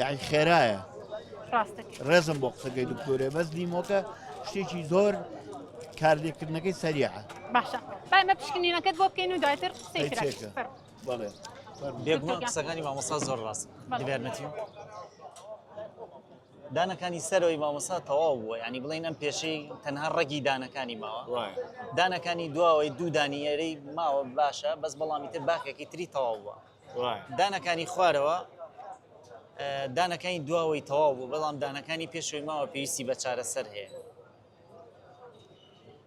S6: یاعی خێرایە ڕێزم بۆ قسەکەی دکتۆرێ بەس دیمۆکە شتێکی زۆر کاردێکردنەکەی سەریعە باشە بامە
S1: پشکنینەکەت بۆ بکەین و دواتر بڵێ
S6: بێگومان
S2: قسەکانی مامۆسا زۆر ڕاست دیبێرنەتی دانەکانی سەرەوەی مامۆسا تەواو بووە ینی بڵین ئەم پێشەی تەنها ڕەگی دانەکانی ماوە دانەکانی دواوەی دوو دانیێرەی ماوە باشە بەس بەڵامی تر باکێکی تری تەواو بووە دانەکانی خوارەوە دانەکانی دواوەی تەواو بوو بەڵام دانەکانی پێشوی ماوە پێویستی بە چارەسەر هەیە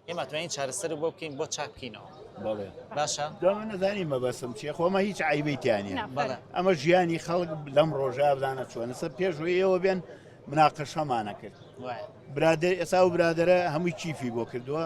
S2: ئێمە توانین چارەسەر بۆ بکەین بۆ چاکینەوە باشە نەزانی
S6: مەبەسم چیە خۆمە هیچ عیبیتیانی ئەمە ژیانی خەڵک لەم ڕۆژە بدانە چۆنە سەر پێشوەیەوە بێن مناقەشەمانە کرد برادر ئێسا و برادرە هەمووی چیفی بۆ کردووە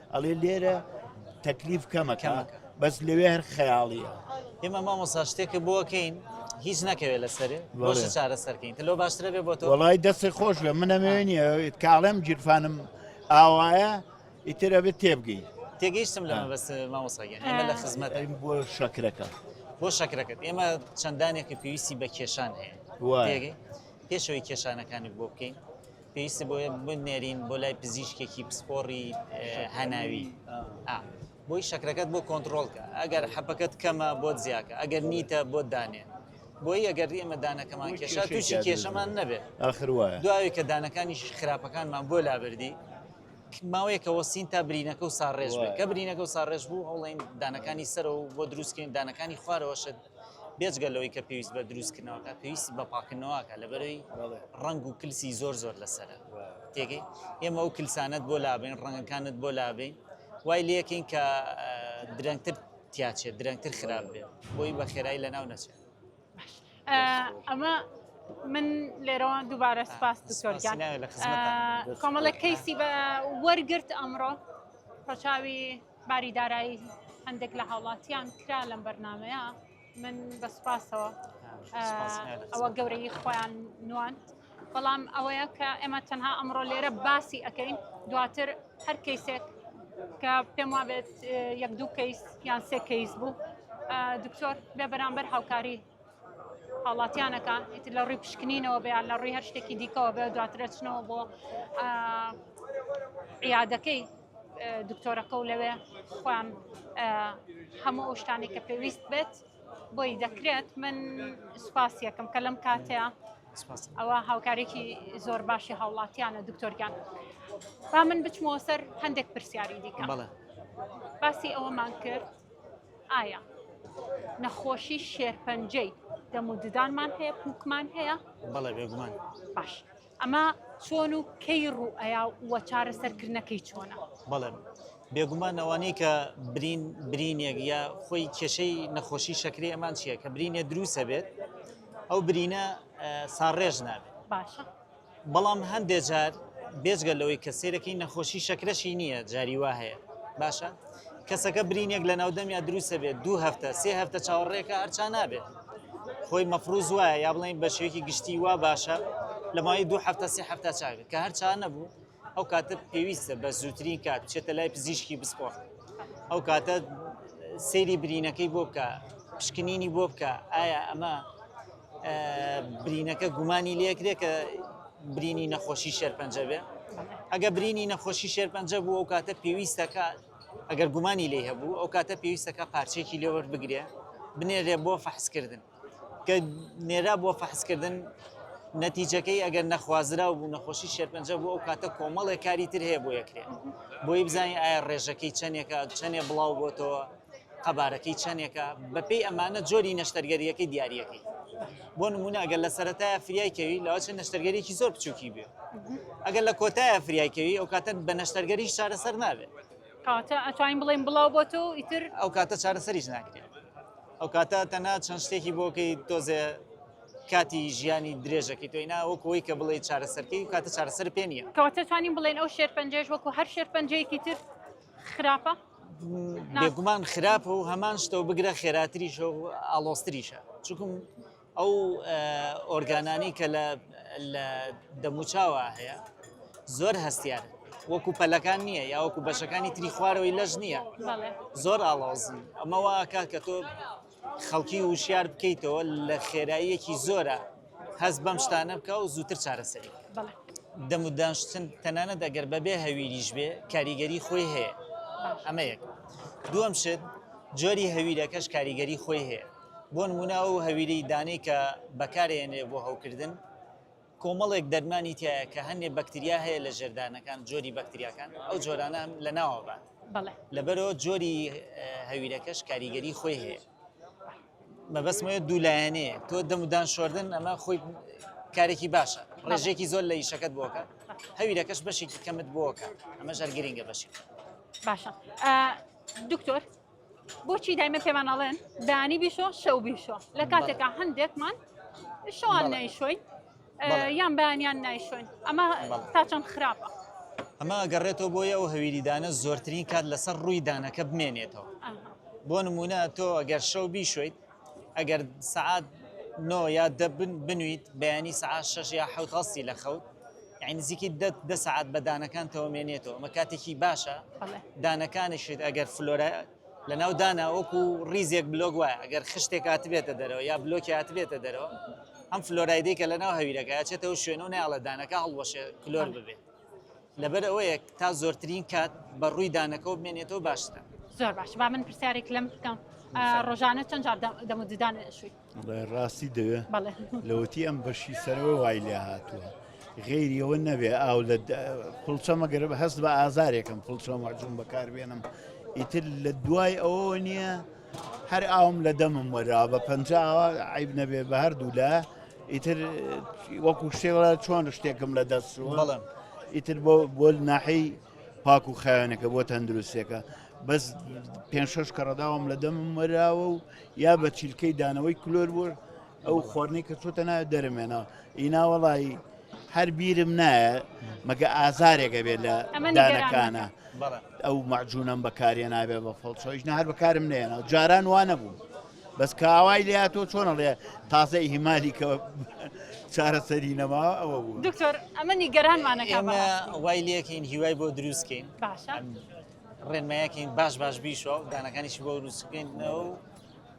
S6: ئەڵێ لێرە تەکلیف کەمە کەمە بەس لەوێ هەر خەیاڵیە ئێمە مامۆسا
S2: شتێکە بۆکەین هیچ نەکەوێت لەسەر بۆش چارە سەرکەین لۆ باشترە بێ بۆ وڵی دەستی خۆش بێ
S6: منەمێنی کاڵێم گیرفانم ئاوایە ئیترە بێت تێبگەی تێگەیشتم لە
S2: بەس مامۆساگە ئێمە لە خزمەت بۆ شەکرەکە
S6: بۆ شەکرەکەت
S2: ئێمە چەندانێکی پێویستی بە کێشان هەیە پێشەوەی کێشانەکانی بۆ بکەین پێویستە بۆیە بنێرین بۆ لای پزیشکێکی پسپۆڕی هەناوی بۆی شەکرەکەت بۆ کۆنتترۆلکە ئەگەر حەپەکەت کەمە بۆ زیاکە ئەگەر نیتە بۆ دانێ بۆی ئەگەر ئێمە دانەکەمان کێشا تووشی کێشەمان نەبێت ئاخر وایە دوای کە دانەکانی خراپەکانمان بۆ لابردی ماوەیەکە وەسین تا برینەکە و ساڕێژ کە برینەکە و ساڕێژ بوو هەوڵین دانەکانی سەرەوە بۆ دروستکەین دانەکانی خوارەوەشت بێجگە لەوەی کە پێویست بە دروست کردنەوەکە پێویستی بە پاکردنەوەکە لەبەرەی ڕنگ و کلسی زۆر زۆر لەسرە تێگەی ئێمە و کلسانت بۆ لابین ڕنگەکانت بۆ لابین وای لەکەین کە درەنگتر تیاچێت درەنگتر خراپ بێ بۆی بە خێرایی لە ناو نەچێت
S1: ئەمە من لێرەوان دووبارە سپاس دکتۆرگیان کۆمەڵە کەیسی بە وەرگرت ئەمڕۆ ڕەچاوی باری دارایی هەندێک لە هاوڵاتیان کرا لەم بەرنمەیە من بە سوپاسەوە ئەوە گەورەی خۆیان نواند بەڵام ئەوەیە کە ئێمە تەنها ئەمڕۆ لێرە باسی ئەەکەین دواتر هەر کەیسێک کە پێم وابێت یەک دوو کەیس یان سێ کەیس بوو دکتۆر بێ بەرامبەر هاوکاری هاوڵاتیانەکە ئیتر لە ڕووی پشکنینەوە بەیان لە ڕووی هەر شتێکی دیکەوە بێ دواترەچنەوە بۆ عیادەکەی دکتۆرەکە و لەوێ خۆیان هەموو ئەو شتانێک کە پێویست بێت بۆی دەکرێت من سوپاس یەکەم کە لەم کاتەیە ئەوە هاوکارێکی زۆر باشی هاوڵاتیانە دکتۆرگیان با من بچمەوە سەر هەندێک پرسیاری دیکە باسی ئەوەمان کرد ئایا نەخۆشی شێرپەنجەی دەم و ددانمان هەیە پوکمان هەیە بەڵێ بێگومان
S2: باش
S1: ئەمە چۆن و کەی ڕووئەیا و چارەسەرکردنەکەی چۆنە؟ بەڵێ
S2: بێگومان ئەوانەی کە برین برینێک یا خۆی کێشەی نەخۆشی شەکری ئەمان چییە کە برینێ دروسە بێت ئەو برینە ساڕێژ نابێت باشە
S1: بەڵام
S2: هەندێ جار بێجگە لەوەی کە سێرەکەی نەخۆشی شەکرەشی نییە جاری وا هەیە باشە کەسەکە برینێک لە ناودەمیا دروستە بێت دوو هەفتە سێ هەفتە چاوەڕێکە ئەرچا نابێت خۆی مەفروز وایە یا بڵین بە شێوکی گشتی وا باشە لە ماوەی دوو هەفتە سێ هەفتە چاوێت کە هەر چا نەبوو ئەو کاتە پێویستە بە زووترین کات چێتە لای پزیشکی بسپۆر ئەو کاتە سەیری برینەکەی بۆ بکە پشکنینی بۆ بکە ئایا ئەمە برینەکە گومانی لێکرێ کە برینی نەخۆشی شێرپەنجە بێ ئەگە برینی نەخۆشی شێرپەنجە بوو ئەو کاتە پێویستەکە ئەگەر گومانی لێ هەبوو ئەو کاتە پێویستەکە پارچێکی لێوەر بگرێ بنێرێ بۆ فەحسکردن کە نێرا بۆ فەحسکردن نەتیجەکەی ئەگەر نەخوازرا و بوو نەخۆشی شێرپەنجە بوو ئەو کاتە کۆمەڵێک کاری تر هەیە بۆ یەکرێ بۆی بزانین ئایا ڕێژەکەی چەندێکە چەندێ بڵاو بۆتەوە قەبارەکەی چەنێکە بەپێی ئەمانە جۆری نەشتەرگەریەکەی دیارریەکەی بۆ نمونە ئەگەر لە سەتای فریایکەوی لەەوە چەند نەشتەرگەریکی زۆر بچووکی بێ ئەگەر لە کۆتایە فریایکەوی ئەو کاتە بە نەشتەرگەری چارەسەر نابێت کاتە ئەتوانین
S1: بڵێن بڵاو بۆ تۆ ئیتر ئەو کاتە چارەسەریش
S2: ناکرێت ئەو کاتە تەنا چەند شتێکی بۆکەی تۆزێ کاتی ژیانی درێژەکەی تۆی ناوەکەوەی کە بڵێ چارەسەرکەی کاتە چارەسەر پێ نیە کاتە توانین بڵێن ئەو
S1: شێرپەنجێش وەکو هەر شێرپەنجەیەکی تر خراپە
S2: بێگومان خراپە و هەمان شتەوە بگرە خێراتریشە و ئاڵۆستریشە چکم ئەو ئۆرگانانی کە لە دەموچاوە هەیە زۆر هەستیارە وەکو پەلەکان نییە یاوەکو بەشەکانی تری خوارەوەی لەش نییە زۆر ئاڵاوزن ئەمەوە کاکە تۆ خەڵکی وشیار بکەیتەوە لە خێراییەکی زۆرە هەست بەم شتانە بکە و زووتر چارەسەری دەمودانشتن تەنانەت ئەگەر بەبێ هەویریش بێ کاریگەری خۆی هەیە ئەمە یەک دووەم شت جۆری هەویرەکەش کاریگەری خۆی هەیە بۆ نمونە و هەویری دانەی کە بەکارێنێ بۆ هەوکردن کۆمەڵێک دەرمانی تیایە کە هەندێک بەکتریا هەیە لە ژێردانەکان جۆری بەکتریاکان ئەو جۆرانە هەم لە ناوە بات بەڵێ لەبەرەوە جۆری هەویرەکەش کاریگەری خۆی هەیە مەبەستمەوە دوو لایەنێ تۆ دەمودان شۆردن ئەمە خۆی کارێکی باشە ڕێژێکی زۆر لە یشەکەت بۆکە هەویرەکەش بەشێکی کەمت بۆکە ئەمە ژەر گرنگە بەشی باشە
S1: دکتۆر بۆچی دایمە پێمان ئەڵێن دانی بیشۆ شەو بیشۆ لە کاتێکا هەندێکمان شەوان نایشۆین یان بەیانیان نایشۆین ئەمە تا چەند خراپە ئەمە
S2: گەڕێتەوە بۆیە ئەو هەویریدانە زۆرترین کات لەسەر ڕووی دانەکە بمێنێتەوە بۆ نمونە تۆ ئەگەر شەو بیشۆیت ئەگەر سەعات نۆ یا دە بنویت بەیانی سەعات شەش یا حەوت هەڵستی لە خەوت یعنی نزیکی دە دە سەعات بە دانەکانتەوە مێنێتەوە ئەمە کاتێکی باشە بەڵێ دانەکانیشت ئەگەر فلۆرە لەناو دانا وەکو ریزێک بلۆک وایە ئەگەر خشتێک هاتبێتە دەرەوە یا بلۆکی هاتبێتە دەرەوە ئەم فلۆرایدەی کە لەناو هەویرەکە ئەچێتەوە شوێنە و نەیاڵە دانەکە هەڵوەشێ کلۆر ببێت لەبەر ئەوەیە تا زۆرترین کات بە ڕووی دانەکەەوە بمێنێتەوە باشتە زۆر باش با من
S1: پرسیارێک لەم بکەم ڕۆژانە چەند جار دەم و ددان شووی ڕاستی دەوێ
S6: لەوەتی ئەم بەشی سەرەوە وای لێ هاتووە. غێریەوە نەبێ ئاو لە پڵچەمە گەرب هەست بە ئازارێکم پڵچەمە جون بەکاربێنم ئیتر لە دوای ئەوە نییە هەر ئاوم لە دەمم وەرا بە پەنجا عیب نەبێ بە هەردوو لە ئیتر وەکو شێڵە چۆن شتێکم لە دەست بەڵم ئیتر بۆ بۆ ناحەی پاک و خاوێنەکە بۆ تەندروستێکە بەس پێ شش کەڕداوام لە دەمم وەراوە و یا بە چیلکەی دانەوەی کلۆر بوو ئەو خۆرنەی کە چۆتە ناوێت دەرمێنە ئینا وەڵی هەر بیرم نایە مەگە ئازارێکە بێت لە دانەکانە ئەو مەجوونم بەکارێ نابێت بە فڵچۆیش نە هەر بەکارم نێنە جاران وانە بوو بەس کاوای لە تۆ چۆنە لێ تازە هیمالی کە چارەسەری نەما ئەوە بوو دکتۆر ئەمە
S2: نیگەرانمانەکە وای لەکەین
S1: هیوای بۆ
S2: دروستکەین ڕێنمایەکەین باش باش بیشەوە دانەکانیشی بۆ دروستکەین و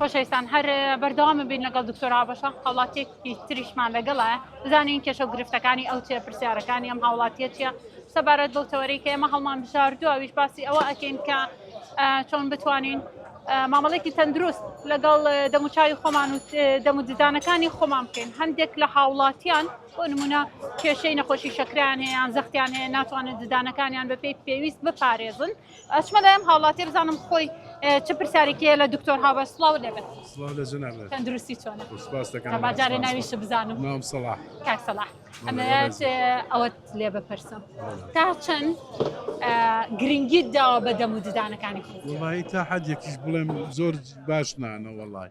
S1: خۆشەویستان هەر بەردەوام بین لەگەڵ دکتۆر هاوبەشە هاوڵاتیەکی تریشمان لەگەڵە بزانین کێشە و گرفتەکانی ئەو چێ پرسیارەکانی ئەم هاوڵاتیە چیە سەبارەت بەو تەوەری کە ئێمە هەڵمان بژاردو ئەویش باسی ئەوە ئەکەین کە چۆن بتوانین مامەڵێکی تەندروست لەگەڵ دەموچوی خۆمان و دەمو ددانەکانی خۆمان بکەین هەندێک لە هاوڵاتیان بۆ نموونە کێشەی نەخۆشی شەکرەیان هەیە یان زەختیان هەیە ناتوانن ددانەکانیان بە پێی پێویست بپارێزن ئەچمە لای ئەم هاوڵاتی بزانم خۆی اه، چ پرسیارێکیە لە دکتۆر هاوە سڵاو لێبێت سڵاو لە جەنابت تەندروستی چۆنە سپاس دەکەم تا باجارێ ناویش بزانم ناوم سەڵاح کاک
S7: سەڵاح
S1: بەڵێ، ئەمەوێت بەڕێزم. اه، ئەوەت لێ بپرسم بەڵێ. تا چەند اه، گرنگیت داوە بە دەم و ددانەکانی خۆت وڵی تا حد یەکیش
S7: بڵێم زۆر باش نانە وڵی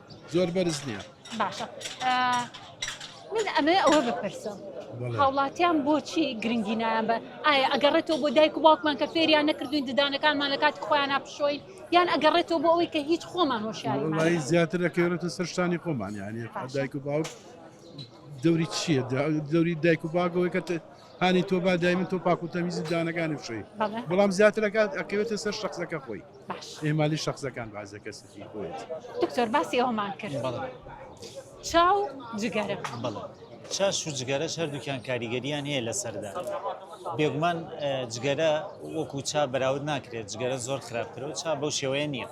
S1: زۆر بەرز
S7: نییە باشە
S1: من ئەمێ ئەوە بپرسم هاوڵاتیان بۆچی گرنگی نایان بە ئایا ئەگەڕێتەوە بۆ دایک و باوکمان کە فێریان نەکردوین ددانەکانمان لە کاتی خۆیان پشۆی یان ئەگەڕێتەوە بۆ ئەوەی کە هیچ خۆمان هۆشیاری زیاتر لەکەێتە
S7: سەرشتانی خۆمان یانی دایک و باوک دەوری چییە دەوری دایک و باگەوەی کە هانی تۆ با دایمن تۆ پاکو تەمیزی دانەکانی بشەی بەڵام زیاترەکات ئەکەوێتە سەر شخصەکە خۆی ئێمالی شخصەکان بازە کەسەتی خۆیت دکتۆر باسی
S1: ئەومان کرد چاو جگەرە بڵێ
S2: چاش و جگەرەش هەردووکیان کاریگەریان هەیە لە سەردا بێگومان جگەرە وەکو چا بەراود ناکرێت جگەرە زۆر خراپترەوە چا بەو شێوەیە نییە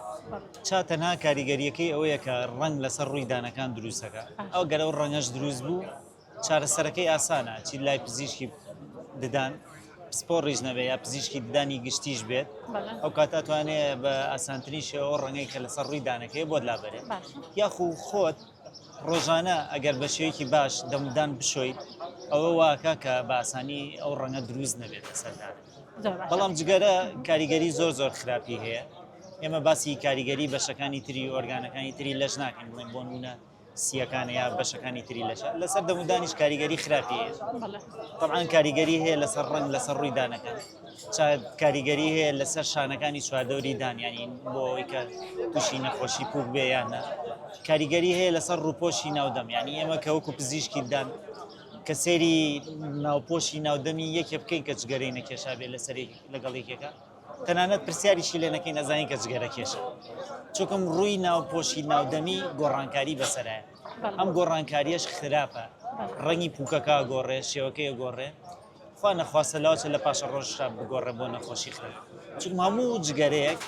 S2: چا تەنها کاریگەریەکەی ئەوەیە کە ڕنگ لەسەر ڕووی دانەکان دروستەکە ئەو گەرە و ڕەنگەش دروست بوو چارەسەرەکەی ئاسانە چی لای پزیشکی ددان پسپۆڕیش نەبێت یا پزیشکی ددانی گشتیش بێت ئەو کات ئەتوانێ بە ئاسانترین شێوە ڕەنگەی کە لەسەر ڕووی دانەکەی بۆت لابەرێت یاخو خۆت ڕۆژانە ئەگەر بە شێوەیەکی باش دەمدان بشۆیت ئەوە واکە کە باسانی ئەو ڕەنگە دروست نەبێت لەسەردان بەڵام جگەرە کاریگەری زۆر زۆر خراپی هەیە ئێمە باسی کاریگەری بەشەکانی تری ئۆرگانەکانی تری لەش ناکەین بڵێن بۆ نونە سییەکان یا بەشەکانی تری لەش لەسەر دەمودانیش کاریگەری خراپی طبعاان کاریگەری هەیە لەسەر ڕنگ لەسەر ڕووی دانەکان کاریگەری هەیە لەسەر شانەکانی چواردەوری دانیانی بۆی کە تووشی نەخۆشی پوک بێ یانە کاریگەری هەیە لەسەر ڕووپۆشی ناودەم ینی ئێمە کە وەکو پزیشکی دان کە سێری ناوپۆشی ناودەمی یەکێ بکەین کە جگەرەی نەکێشا بێ لەسەری لەگەڵ یەکێکە تەنانەت پرسیاریشی لێ نەکەین ئەزانین کە جگەرەکێشە چونکم ڕووی ناوپۆشی ناودەمی گۆڕانکاری بەسەرایە ئەم گۆڕانکاریەش خراپە ڕەنگی پوکەکە گۆڕێ شێوەکەی گۆڕێ خوا نەخواستە لاوچە لە پاشە ڕۆژشا بگۆڕێ بۆ نەخۆشی خراپ چون هەموو جگەرەیەک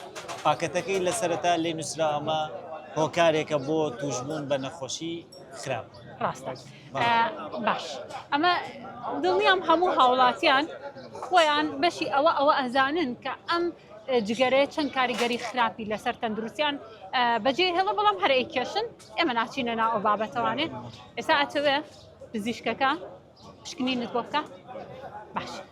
S2: پاکەتەکەی لەسەرتا لێ نووسرا ئەمە هۆکارێکە بۆ توشببوون بە نەخۆشی خراپ ڕاستە.
S1: باش ئەمە دڵنیام هەموو هاوڵاتیان خۆیان بەشی ئەوە ئەوە ئەزانن کە ئەم جگەرەیە چەند کاریگەری خراپی لەسەر تەندروستیان بەجێ هێڵە بەڵام هەرەی کێشن ئێمە ناچینە نا ئەو بابەتەوانێ ئێستا ئەتەوێ پزیشکەکە پشکنینت بۆ بکە باش.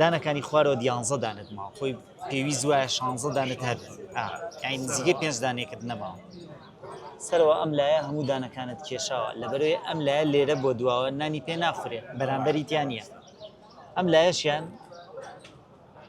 S2: دانەکانی خوارەوە دیانزە دانت ماوە خۆی پێویست وایە شانزە دانت هەر یعنی نزیکەی پێنج دانێکت نەماوە سەرەوە ئەم لایە هەموو دانەکانت کێشاوە لەبەروێ ئەم لایە لێرە بۆ دواوە نانی پێ ناخورێت بەرامبەری تیان نیە ئەم لایەشیان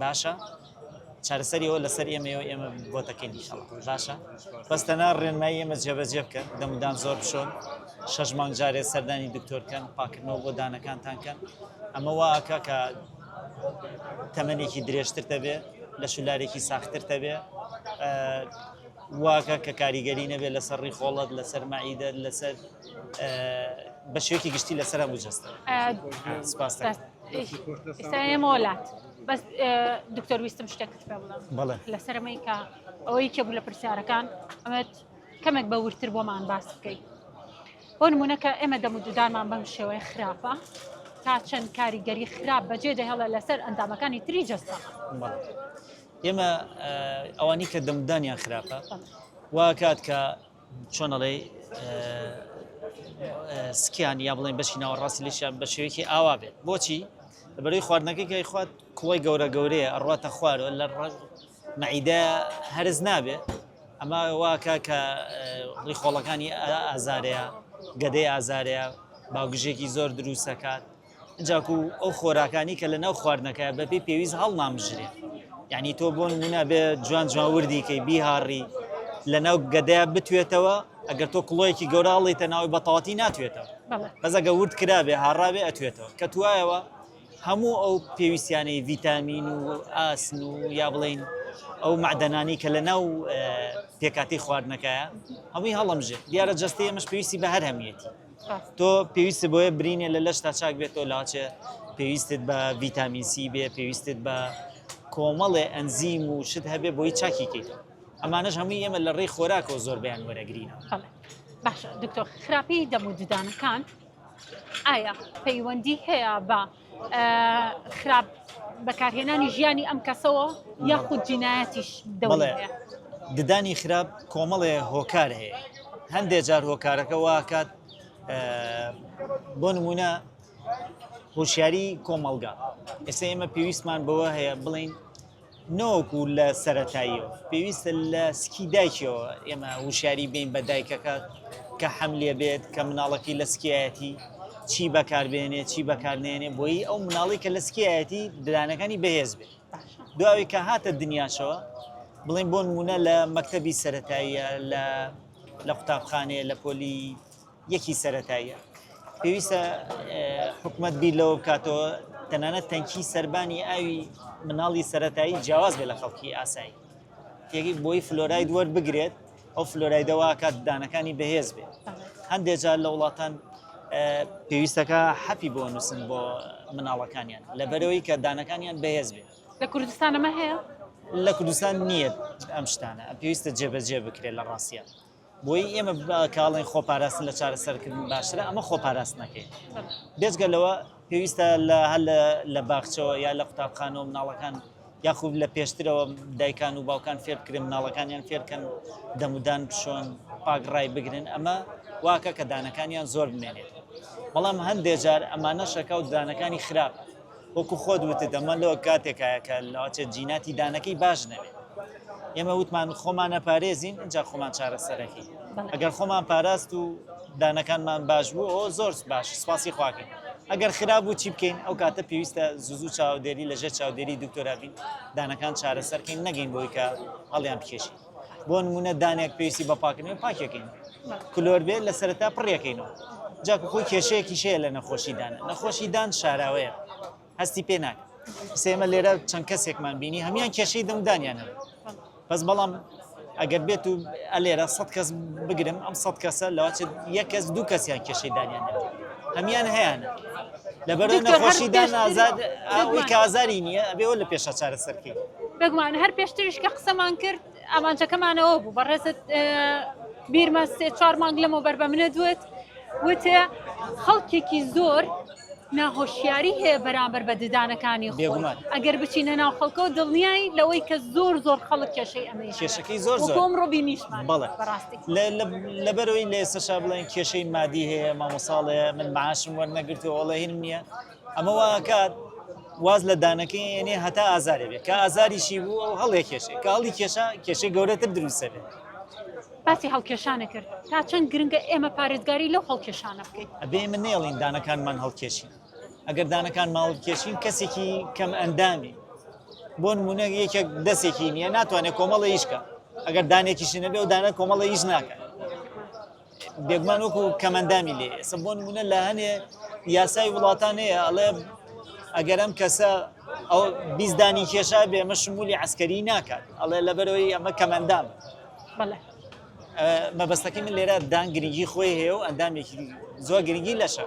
S2: باشە چارەسەری ئەوە لەسەر ئێمەەوە ئێمە بۆتەکەین ئیشەڵا باشە بەس تەنا ڕێنمای ئێمە جێبەجێ بکەن دەمودان زۆر بشۆن شەش مانگ جارێ سەردانی دکتۆرکەن پاکردنەوە بۆ دانەکانتان کەن ئەمە واکە کە تەمەێکی درێژتر دەبێ لە شولارێکی ساختتر دەبێ واکە کە کاریگەری نەبێت لەسەر ڕیخۆڵەت لەسەر مەعیدە لەسەر بە شێوکی گشتی لەسەر بجەستە سپاس.
S1: ئێستا ئێمە وەلات بەس دکتۆر ویستم شتێکت پێ بڵێم بەڵێ لەسەرمەی کە ئەوەی کێ بوو لە پرسیارەکان ئەمەت کەمێک بە ورتر بۆمان باس بکەیت بۆ نمونونەکە ئێمە دەم و دودانمان بەم شێوەیە خراپە تا چەند کاریگەری خراپ بەجێ دەهێڵە لەسەر ئەندامەکانی تری جەستە بەڵێ.
S2: ئێمە ئەوانی کە دەمدانیان خراپە واکات کە چۆن ئەڵێی سکیان یا بڵێن بەشی ناوەڕاستی لەشیان بە شێوەیەکی ئاوا بێت بۆچی بەروی خواردنەکەی گای خوات کوڵی گەورە گەورەیە ئەڕاتە خوارەوە لە ڕژ مەعیدە هەرز نابێ ئەمە واکە کە ڕیخۆڵەکانی ئازارەیە گەدەی ئازارەیە باوگژێکی زۆر دروستەکات جا کو ئەو خۆراکانی کە لە ناو خواردنەکەیا بە پێی پێویست هەڵنامژرێ؟ یانی تۆ بۆ نموونە بێ جوان جوان وردی کەی بیهاڕی لە ناو گەدەیا بتوێتەوە ئەگەر تۆ کڵۆیەکی گەورە هەڵیتە ناوەی بە تەواتی ناتوێتەوە بەڵێ بەس ئەگە ورد کرابێ هاڕاوێ ئەتوێتەوە کە توایەوە هەموو ئەو پێویستیانەی ڤیتامین و ئاسن و یا بڵین ئەو معدەنانی کە لە ناو پێکاتی خواردنەکەیە هەمووی هەڵمژێ دیارە جەستەی ئەمەش پێویستی بە هەر هەمیەتی تۆ پێویستت بۆیە برینێ لە لەشتا چاک بێت تۆ لاچێ پێویستت بە ڤیتامین سی بێ پێویستت بە کۆمەڵێ ئەنزیم و شت هەبێ بۆی چاکی کەیتەوە ئەمانەش هەمووی ئێمە لە ڕێی خۆراکەوە زۆر بیان وەرەگرینە باشە
S1: دکتۆر خراپی دەم و ددانەکان ئایا پەیوەندی هەیە بە خراپ بەکارهێنانی ژیانی ئەم کەسەوە یاخود جینایەتیش دەڵێ ددانی
S2: خراپ کۆمەڵێ هۆکار هەیە هەندێک جار هۆکارەکە واکات بۆ نمونە هۆشیاری کۆمەلگا ئێستا ئێمە پێویستمان بەوە هەیە بڵین نەوەکو لە سەرەتاییەوە پێویستە لە سکی دایکیەوە ئێمە وشاری بین بە دایکەکە کە حەم لێ بێت کە مناڵەکەی لە سکایەتی چی بەکاربێنێ چی بەکارنێنێ بۆی ئەو مناڵی کە لە سکایەتی ددانەکانی بەهێز بێت دواوی کە هاتە دنیاشەوە بڵین بۆ نمونە لە مەکتتەبی سەتاییە لە لە قوتابخانەیە لە پۆلی یەکی سەرەتاییە پێویستە حکومت بیر لەوە بکاتەوە تەنانەت تەنکی سربانی ئاوی مناڵی سەتایی جیاواز بێ لە خەڵکی ئاسایی تێگەی بۆی فلۆراید وەربگرێت ئەو فلۆرایدەواکات دانەکانی بەهێز بێت هەندێک جار لە وڵاتان پێویستەکە حەپی بۆ نووسن بۆ مناڵەکانیان لە بەرەوەی کە دانەکانیان بەهێز بێت لە کوردستانەمە
S1: هەیە لە کوردستان
S2: نییە ئەم شتانە پێویستە جێبەجێ بکرێت لە ڕاستە بۆیی ئێمە کاڵێن خۆپاراستن لە چارەسەرکردن باشترە ئەمە خۆپاراستنەکەی بێجگە لەوە پێویستە لە هەل لە باخچەوە یا لە قوتابخانەوە مناڵەکان یاخود لە پێشترەوە دایکان و باوکان فێرکرێن مناڵەکانیان فێرکەن دەمودان بشۆن پاگڕای بگرن ئەمە واکە کە دانەکانیان زۆر بمێنێت بەڵام هەندێجار ئەمانە شەکە و دانەکانی خراپ وەکو خۆت وتت ئەمە لۆ کاتێکایە کە لەواچێت جیناتی دانەکەی باش نەبێت ئێمە وتمان خۆمانە پارێزین اینجا خۆمان چارەسەرەکەی ئەگەر خۆمان پاراست و دانەکانمان باش بوو ئەو زۆر باش سپاسی خواکەین ئەگەر خراپ بوو چی بکەین ئەو کاتە پێویستە زوزو چاودێری لەژێ چاودێری دکتۆرابین دانەکان چارەسەرکەین نەگەین بۆی کە هەڵیان بکێشین بۆ نمونە دانێک پێویستی بە پاکردنەوەی پاکیەکەین کلۆر بێت لە سەرتا پڕیەکەینەوە جاکو خۆی کێشەیەکی شەیە لە نەخۆشیدان نەخۆشیدان شاراوەیە هەستی پێ ناکە سێمە لێرە چەند کەسێکمان بینی هەمان کێشەی دەمدانیان هەن بەس بەڵام ئەگەر بێت و ئەلێرە سە کەس بگرم ئەم سە کەسە لەواچێت یەک کەس دوو کەسیان کێشەی دانیان هەمان هەیەە لەبەر نەخۆشی دان ئازاد ئەوەی کازاری نییە ئەبێ لە پێشە چارەسەرکەی بگومان هەر
S1: پێشتریش کە قسەمان کرد ئامانجەکەمانەوە بوو بەڕێزت بیرمە سێ چوار مانگ لەمە بەر بە منە دوێت وتێ خەڵکێکی زۆر ناهۆشیاری هەیە بەرامبەر بە ددانەکانی خۆمان ئەگەر بچینە ناو خەڵکە و دڵنیایی لەوەی کە زۆر زۆر خەڵک کێشەی ئەمە کێشەکەی زۆر زۆر
S2: ڕۆبی نیشمان
S1: بەڵێ بەڕاستی لەبەرئەوەی
S2: لە ئێستەشا بڵێن کێشەی مادی هەیە مامۆساڵێ من معاشم وەرنەگرتو ئۆڵێهیم نییە ئەمە واکات واز لە دانەکەی یعنی هەتا ئازارێ بێت کە ئازاریشی بوو ئەو هەڵێ کێشێ کە هەڵی کێشا کێشەی گەورەتر دروستە بێت باسی
S1: هەڵکێشانە کرد تا چەند گرنگە ئێمە پارێزگاری لەو هەڵکێشانە بکەین ئەبێ من نێڵین
S2: دانەکانمان هەڵکێشین ئەگەر دانەکان ماڵکێشین کەسێکی کەم ئەندامی بۆ نمونە یەکێک دەستێکی نییە ناتوانێت کۆمەڵە یشکە ئەگەر دانێکیشی نەبێ و دانە کۆمەڵە یش ناکەن بێگومان وەکو کەمەندامی لێ ئێستا بۆ نمونە لە هەنێ یاسای وڵاتان هەیە ئەڵێ ئەگەر ئەم کەسە ئەو بیزدانی کێشا بێ ئەمە شمولی عسکەری ناکات ئەڵێ لەبەرەوەی ئەمە کەمەندام مەبەستەکەی من لێرە دان گرنگی خۆی هەیە و ئەندامێکی زۆر گرنگی لەشە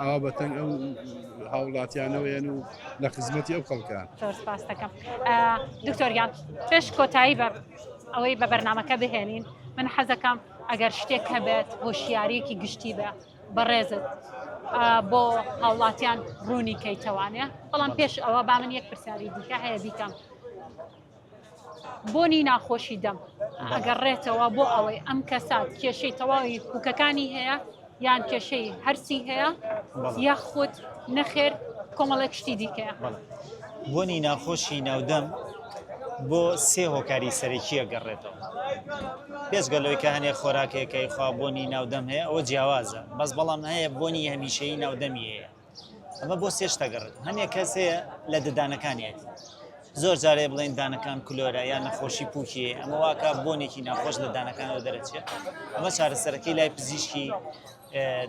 S7: ئاوا بە تەنگ ئەو هاوڵاتیانەوەیەن و لە خزمەتی ئەو خەڵکە سپاستەکەم
S1: دکتۆریان پێش کۆتایی بەر ئەوەی بە بەرنمەکە بهێنین من حەزەکەم ئەگەر شتێک هەبێت هۆشیارێکی گشتی بە بەڕێزت بۆ هاوڵاتیان ڕوونی کەیتەوانێ بەڵام پێش ئەوە با من یەک پرسیاری دیکە هەیە بیکەم بۆنی ناخۆشی دەم ئەگەڕێتەوە بۆ ئەوەی ئەم کەسە کێشەی تەواوی پوکەکانی هەیە یان کێشەی هەرسی هەیە یاخود نەخێر کۆمەڵێک شتی دیکە بۆنی
S2: ناخۆشی ناودەم بۆ سێ هۆکاری سەرەکیە گەڕێتەوە پێشگە لەوەی کە هەنێ خۆراکێکەکەی خوا بۆنی ناودەم هەیە ئەوە جیاوازە بەس بەڵام هەیە بۆنی هەمیشەی ناودەمی هەیە ئەمە بۆ سێ شتە گەڕێت هەنێک کەس هەیە لە ددانەکانیەتی زۆر جارێ بڵێن دانەکان کلۆرە یان نەخۆشی پوکی ئەمە واکە بۆنێکی ناخۆش لە دانەکانەوە دەرەچێت ئەمە چارەسەرەکەی لای پزیشکی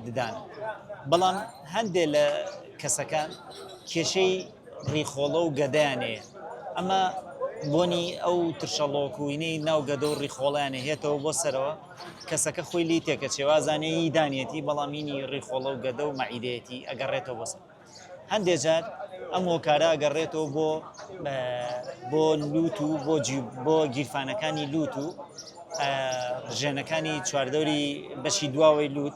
S2: ددان بەڵام هەندێک لە کەسەکان کێشەی ڕیخۆڵە و گەدەیانەیە ئەمە بۆنی ئەو ترشەڵۆکوینەی ناو گەدە و ڕیخۆڵیانە هێتەوە بۆ سەرەوە کەسەکە خۆی لێی تێکەچێ وازانێ ی دانیەتی بەڵام ینی ڕیخۆڵە و گەدە و مەعیدەیەتی ئەگەڕێتەوە بۆ سەر هەندێ جار ئەم هۆکارە ئەگەڕێتەوە بۆ بۆ لووت و بۆ بۆ گیرفانەکانی لووت و ژێنەکانی چواردەوری بەشی دواوەی لووت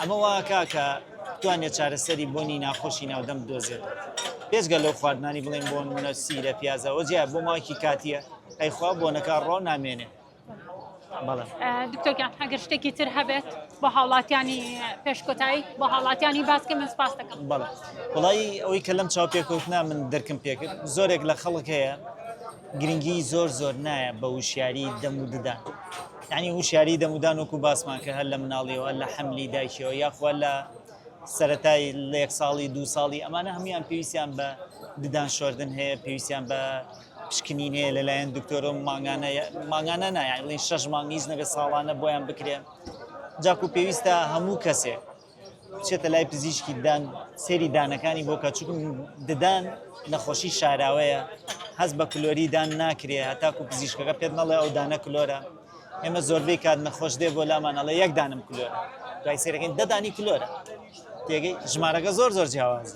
S2: ئەمە وا کا کە بتوانێت چارەسەری بۆنی ناخۆشی ناودەم بدۆزێت بێزگە لەو خواردنانی بڵێن بۆن منە سیرە پیازەوە جیا بۆ ماکی کاتیە ئەیخوا بۆنەکە ڕۆ نامێنێ
S1: دکتۆگیان هەگەر شتێکی تر هەبێت بە هاوڵاتیانی پێشکۆتایی بە هاوڵاتیانی باسکە من سپاس دەکەم بەڵ
S2: وڵی ئەوەی کە لەم چاو پێکوتنا من دەرکم پێکرد زۆرێک لە خەڵک هەیە گرنگی زۆر زۆر نایە بە وشیاری دەم و ددان یەعنی هوشیاری دەمودان وەکو باسمان کرد هەر لە مناڵیەوە هەر لە حەملی دایکیەوە یاخوا لە سەرەتای لە یەک ساڵی دوو ساڵی ئەمانە هەمویان پێویستیان بە ددان شۆردن هەیە پێویستیان بە پشکنین هەیە لەلایەن دکتۆرۆ مانگانە مانگانە نایڵین شەش مانگیز نەبێت ساڵانە بۆیان بکرێن جاکو پێویستە هەموو کەسێک بچێتە لای پزیشکی ددان سێری دانەکانی بۆکە چون ددان نەخۆشی شاراوەیە هەز بە کلۆری دان ناکرێ هەتاکو پزیشکەکە پێت نەڵێ ئەو دانە کلۆرە ئێمە زۆربەی کات نەخۆش دێ بۆ لامانەڵە یەک دانم کلۆر دوای سێرەکەین دەدانی کلۆرە تێگەی ژمارەکە زۆر زۆر جیاواز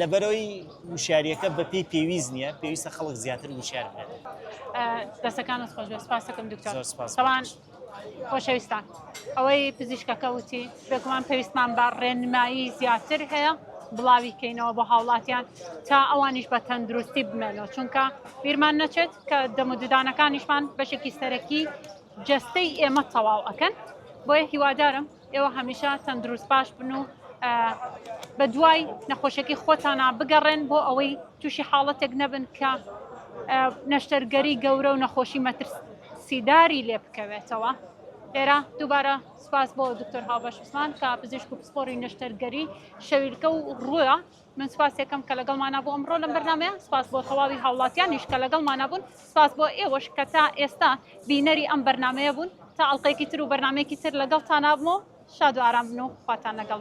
S2: لەبەرەوەی وشاریەکە بەپی پێویست نییە پێویستە خەڵک زیاتر
S1: وشار
S2: دەستەکانت خۆش
S1: سپاسەکەم
S2: دکتۆر
S1: سپاسوان خۆشەویستان ئەوەی پزیشکەکە وتی بێگومان پێویستمان بە ڕێنمایی زیاتر هەیە بڵاوی کەینەوە بۆ هاوڵاتیان تا ئەوانیش بە تەندروستی بمێنەوە چونکە بیرمان نەچێت کە دەم و ددانەکانیشمان بەشێکی سەرەکی جەستەی ئێمە تەواو ئەەکەن بۆیە هیوادارم ئێوە هەمیشە تەندروست باش بن و بە دوای نەخۆشیەکەی خۆتانە بگەڕێن بۆ ئەوەی تووشی حاڵەتێک نەبن کە نەشتەرگەری گەورە و نەخۆشی مەترسیداری لێ بکەوێتەوە لێرە دووبارە سپاس بۆ دکتۆر هاوبەش عوسمان کە پزیشک و پسپۆری نەشتەرگەری شەویلکە و ڕووە من سوپاسێکەم کە لەگەڵ مانا بۆ ئەمڕۆ لەم بەرنمەیە سپاس بۆ تەواوی هاوڵاتیانیش کە لەگەڵ مانا بوون سپاس بۆ ئێوەش کە تا ئێستا بینەری ئەم بەرنمەیە بوون تا ئەڵلقەیەکی تر و بەرنمەیەکی تر لەگەڵ تانابمەوە شاد و ئارام بن و خواتان لەگەڵ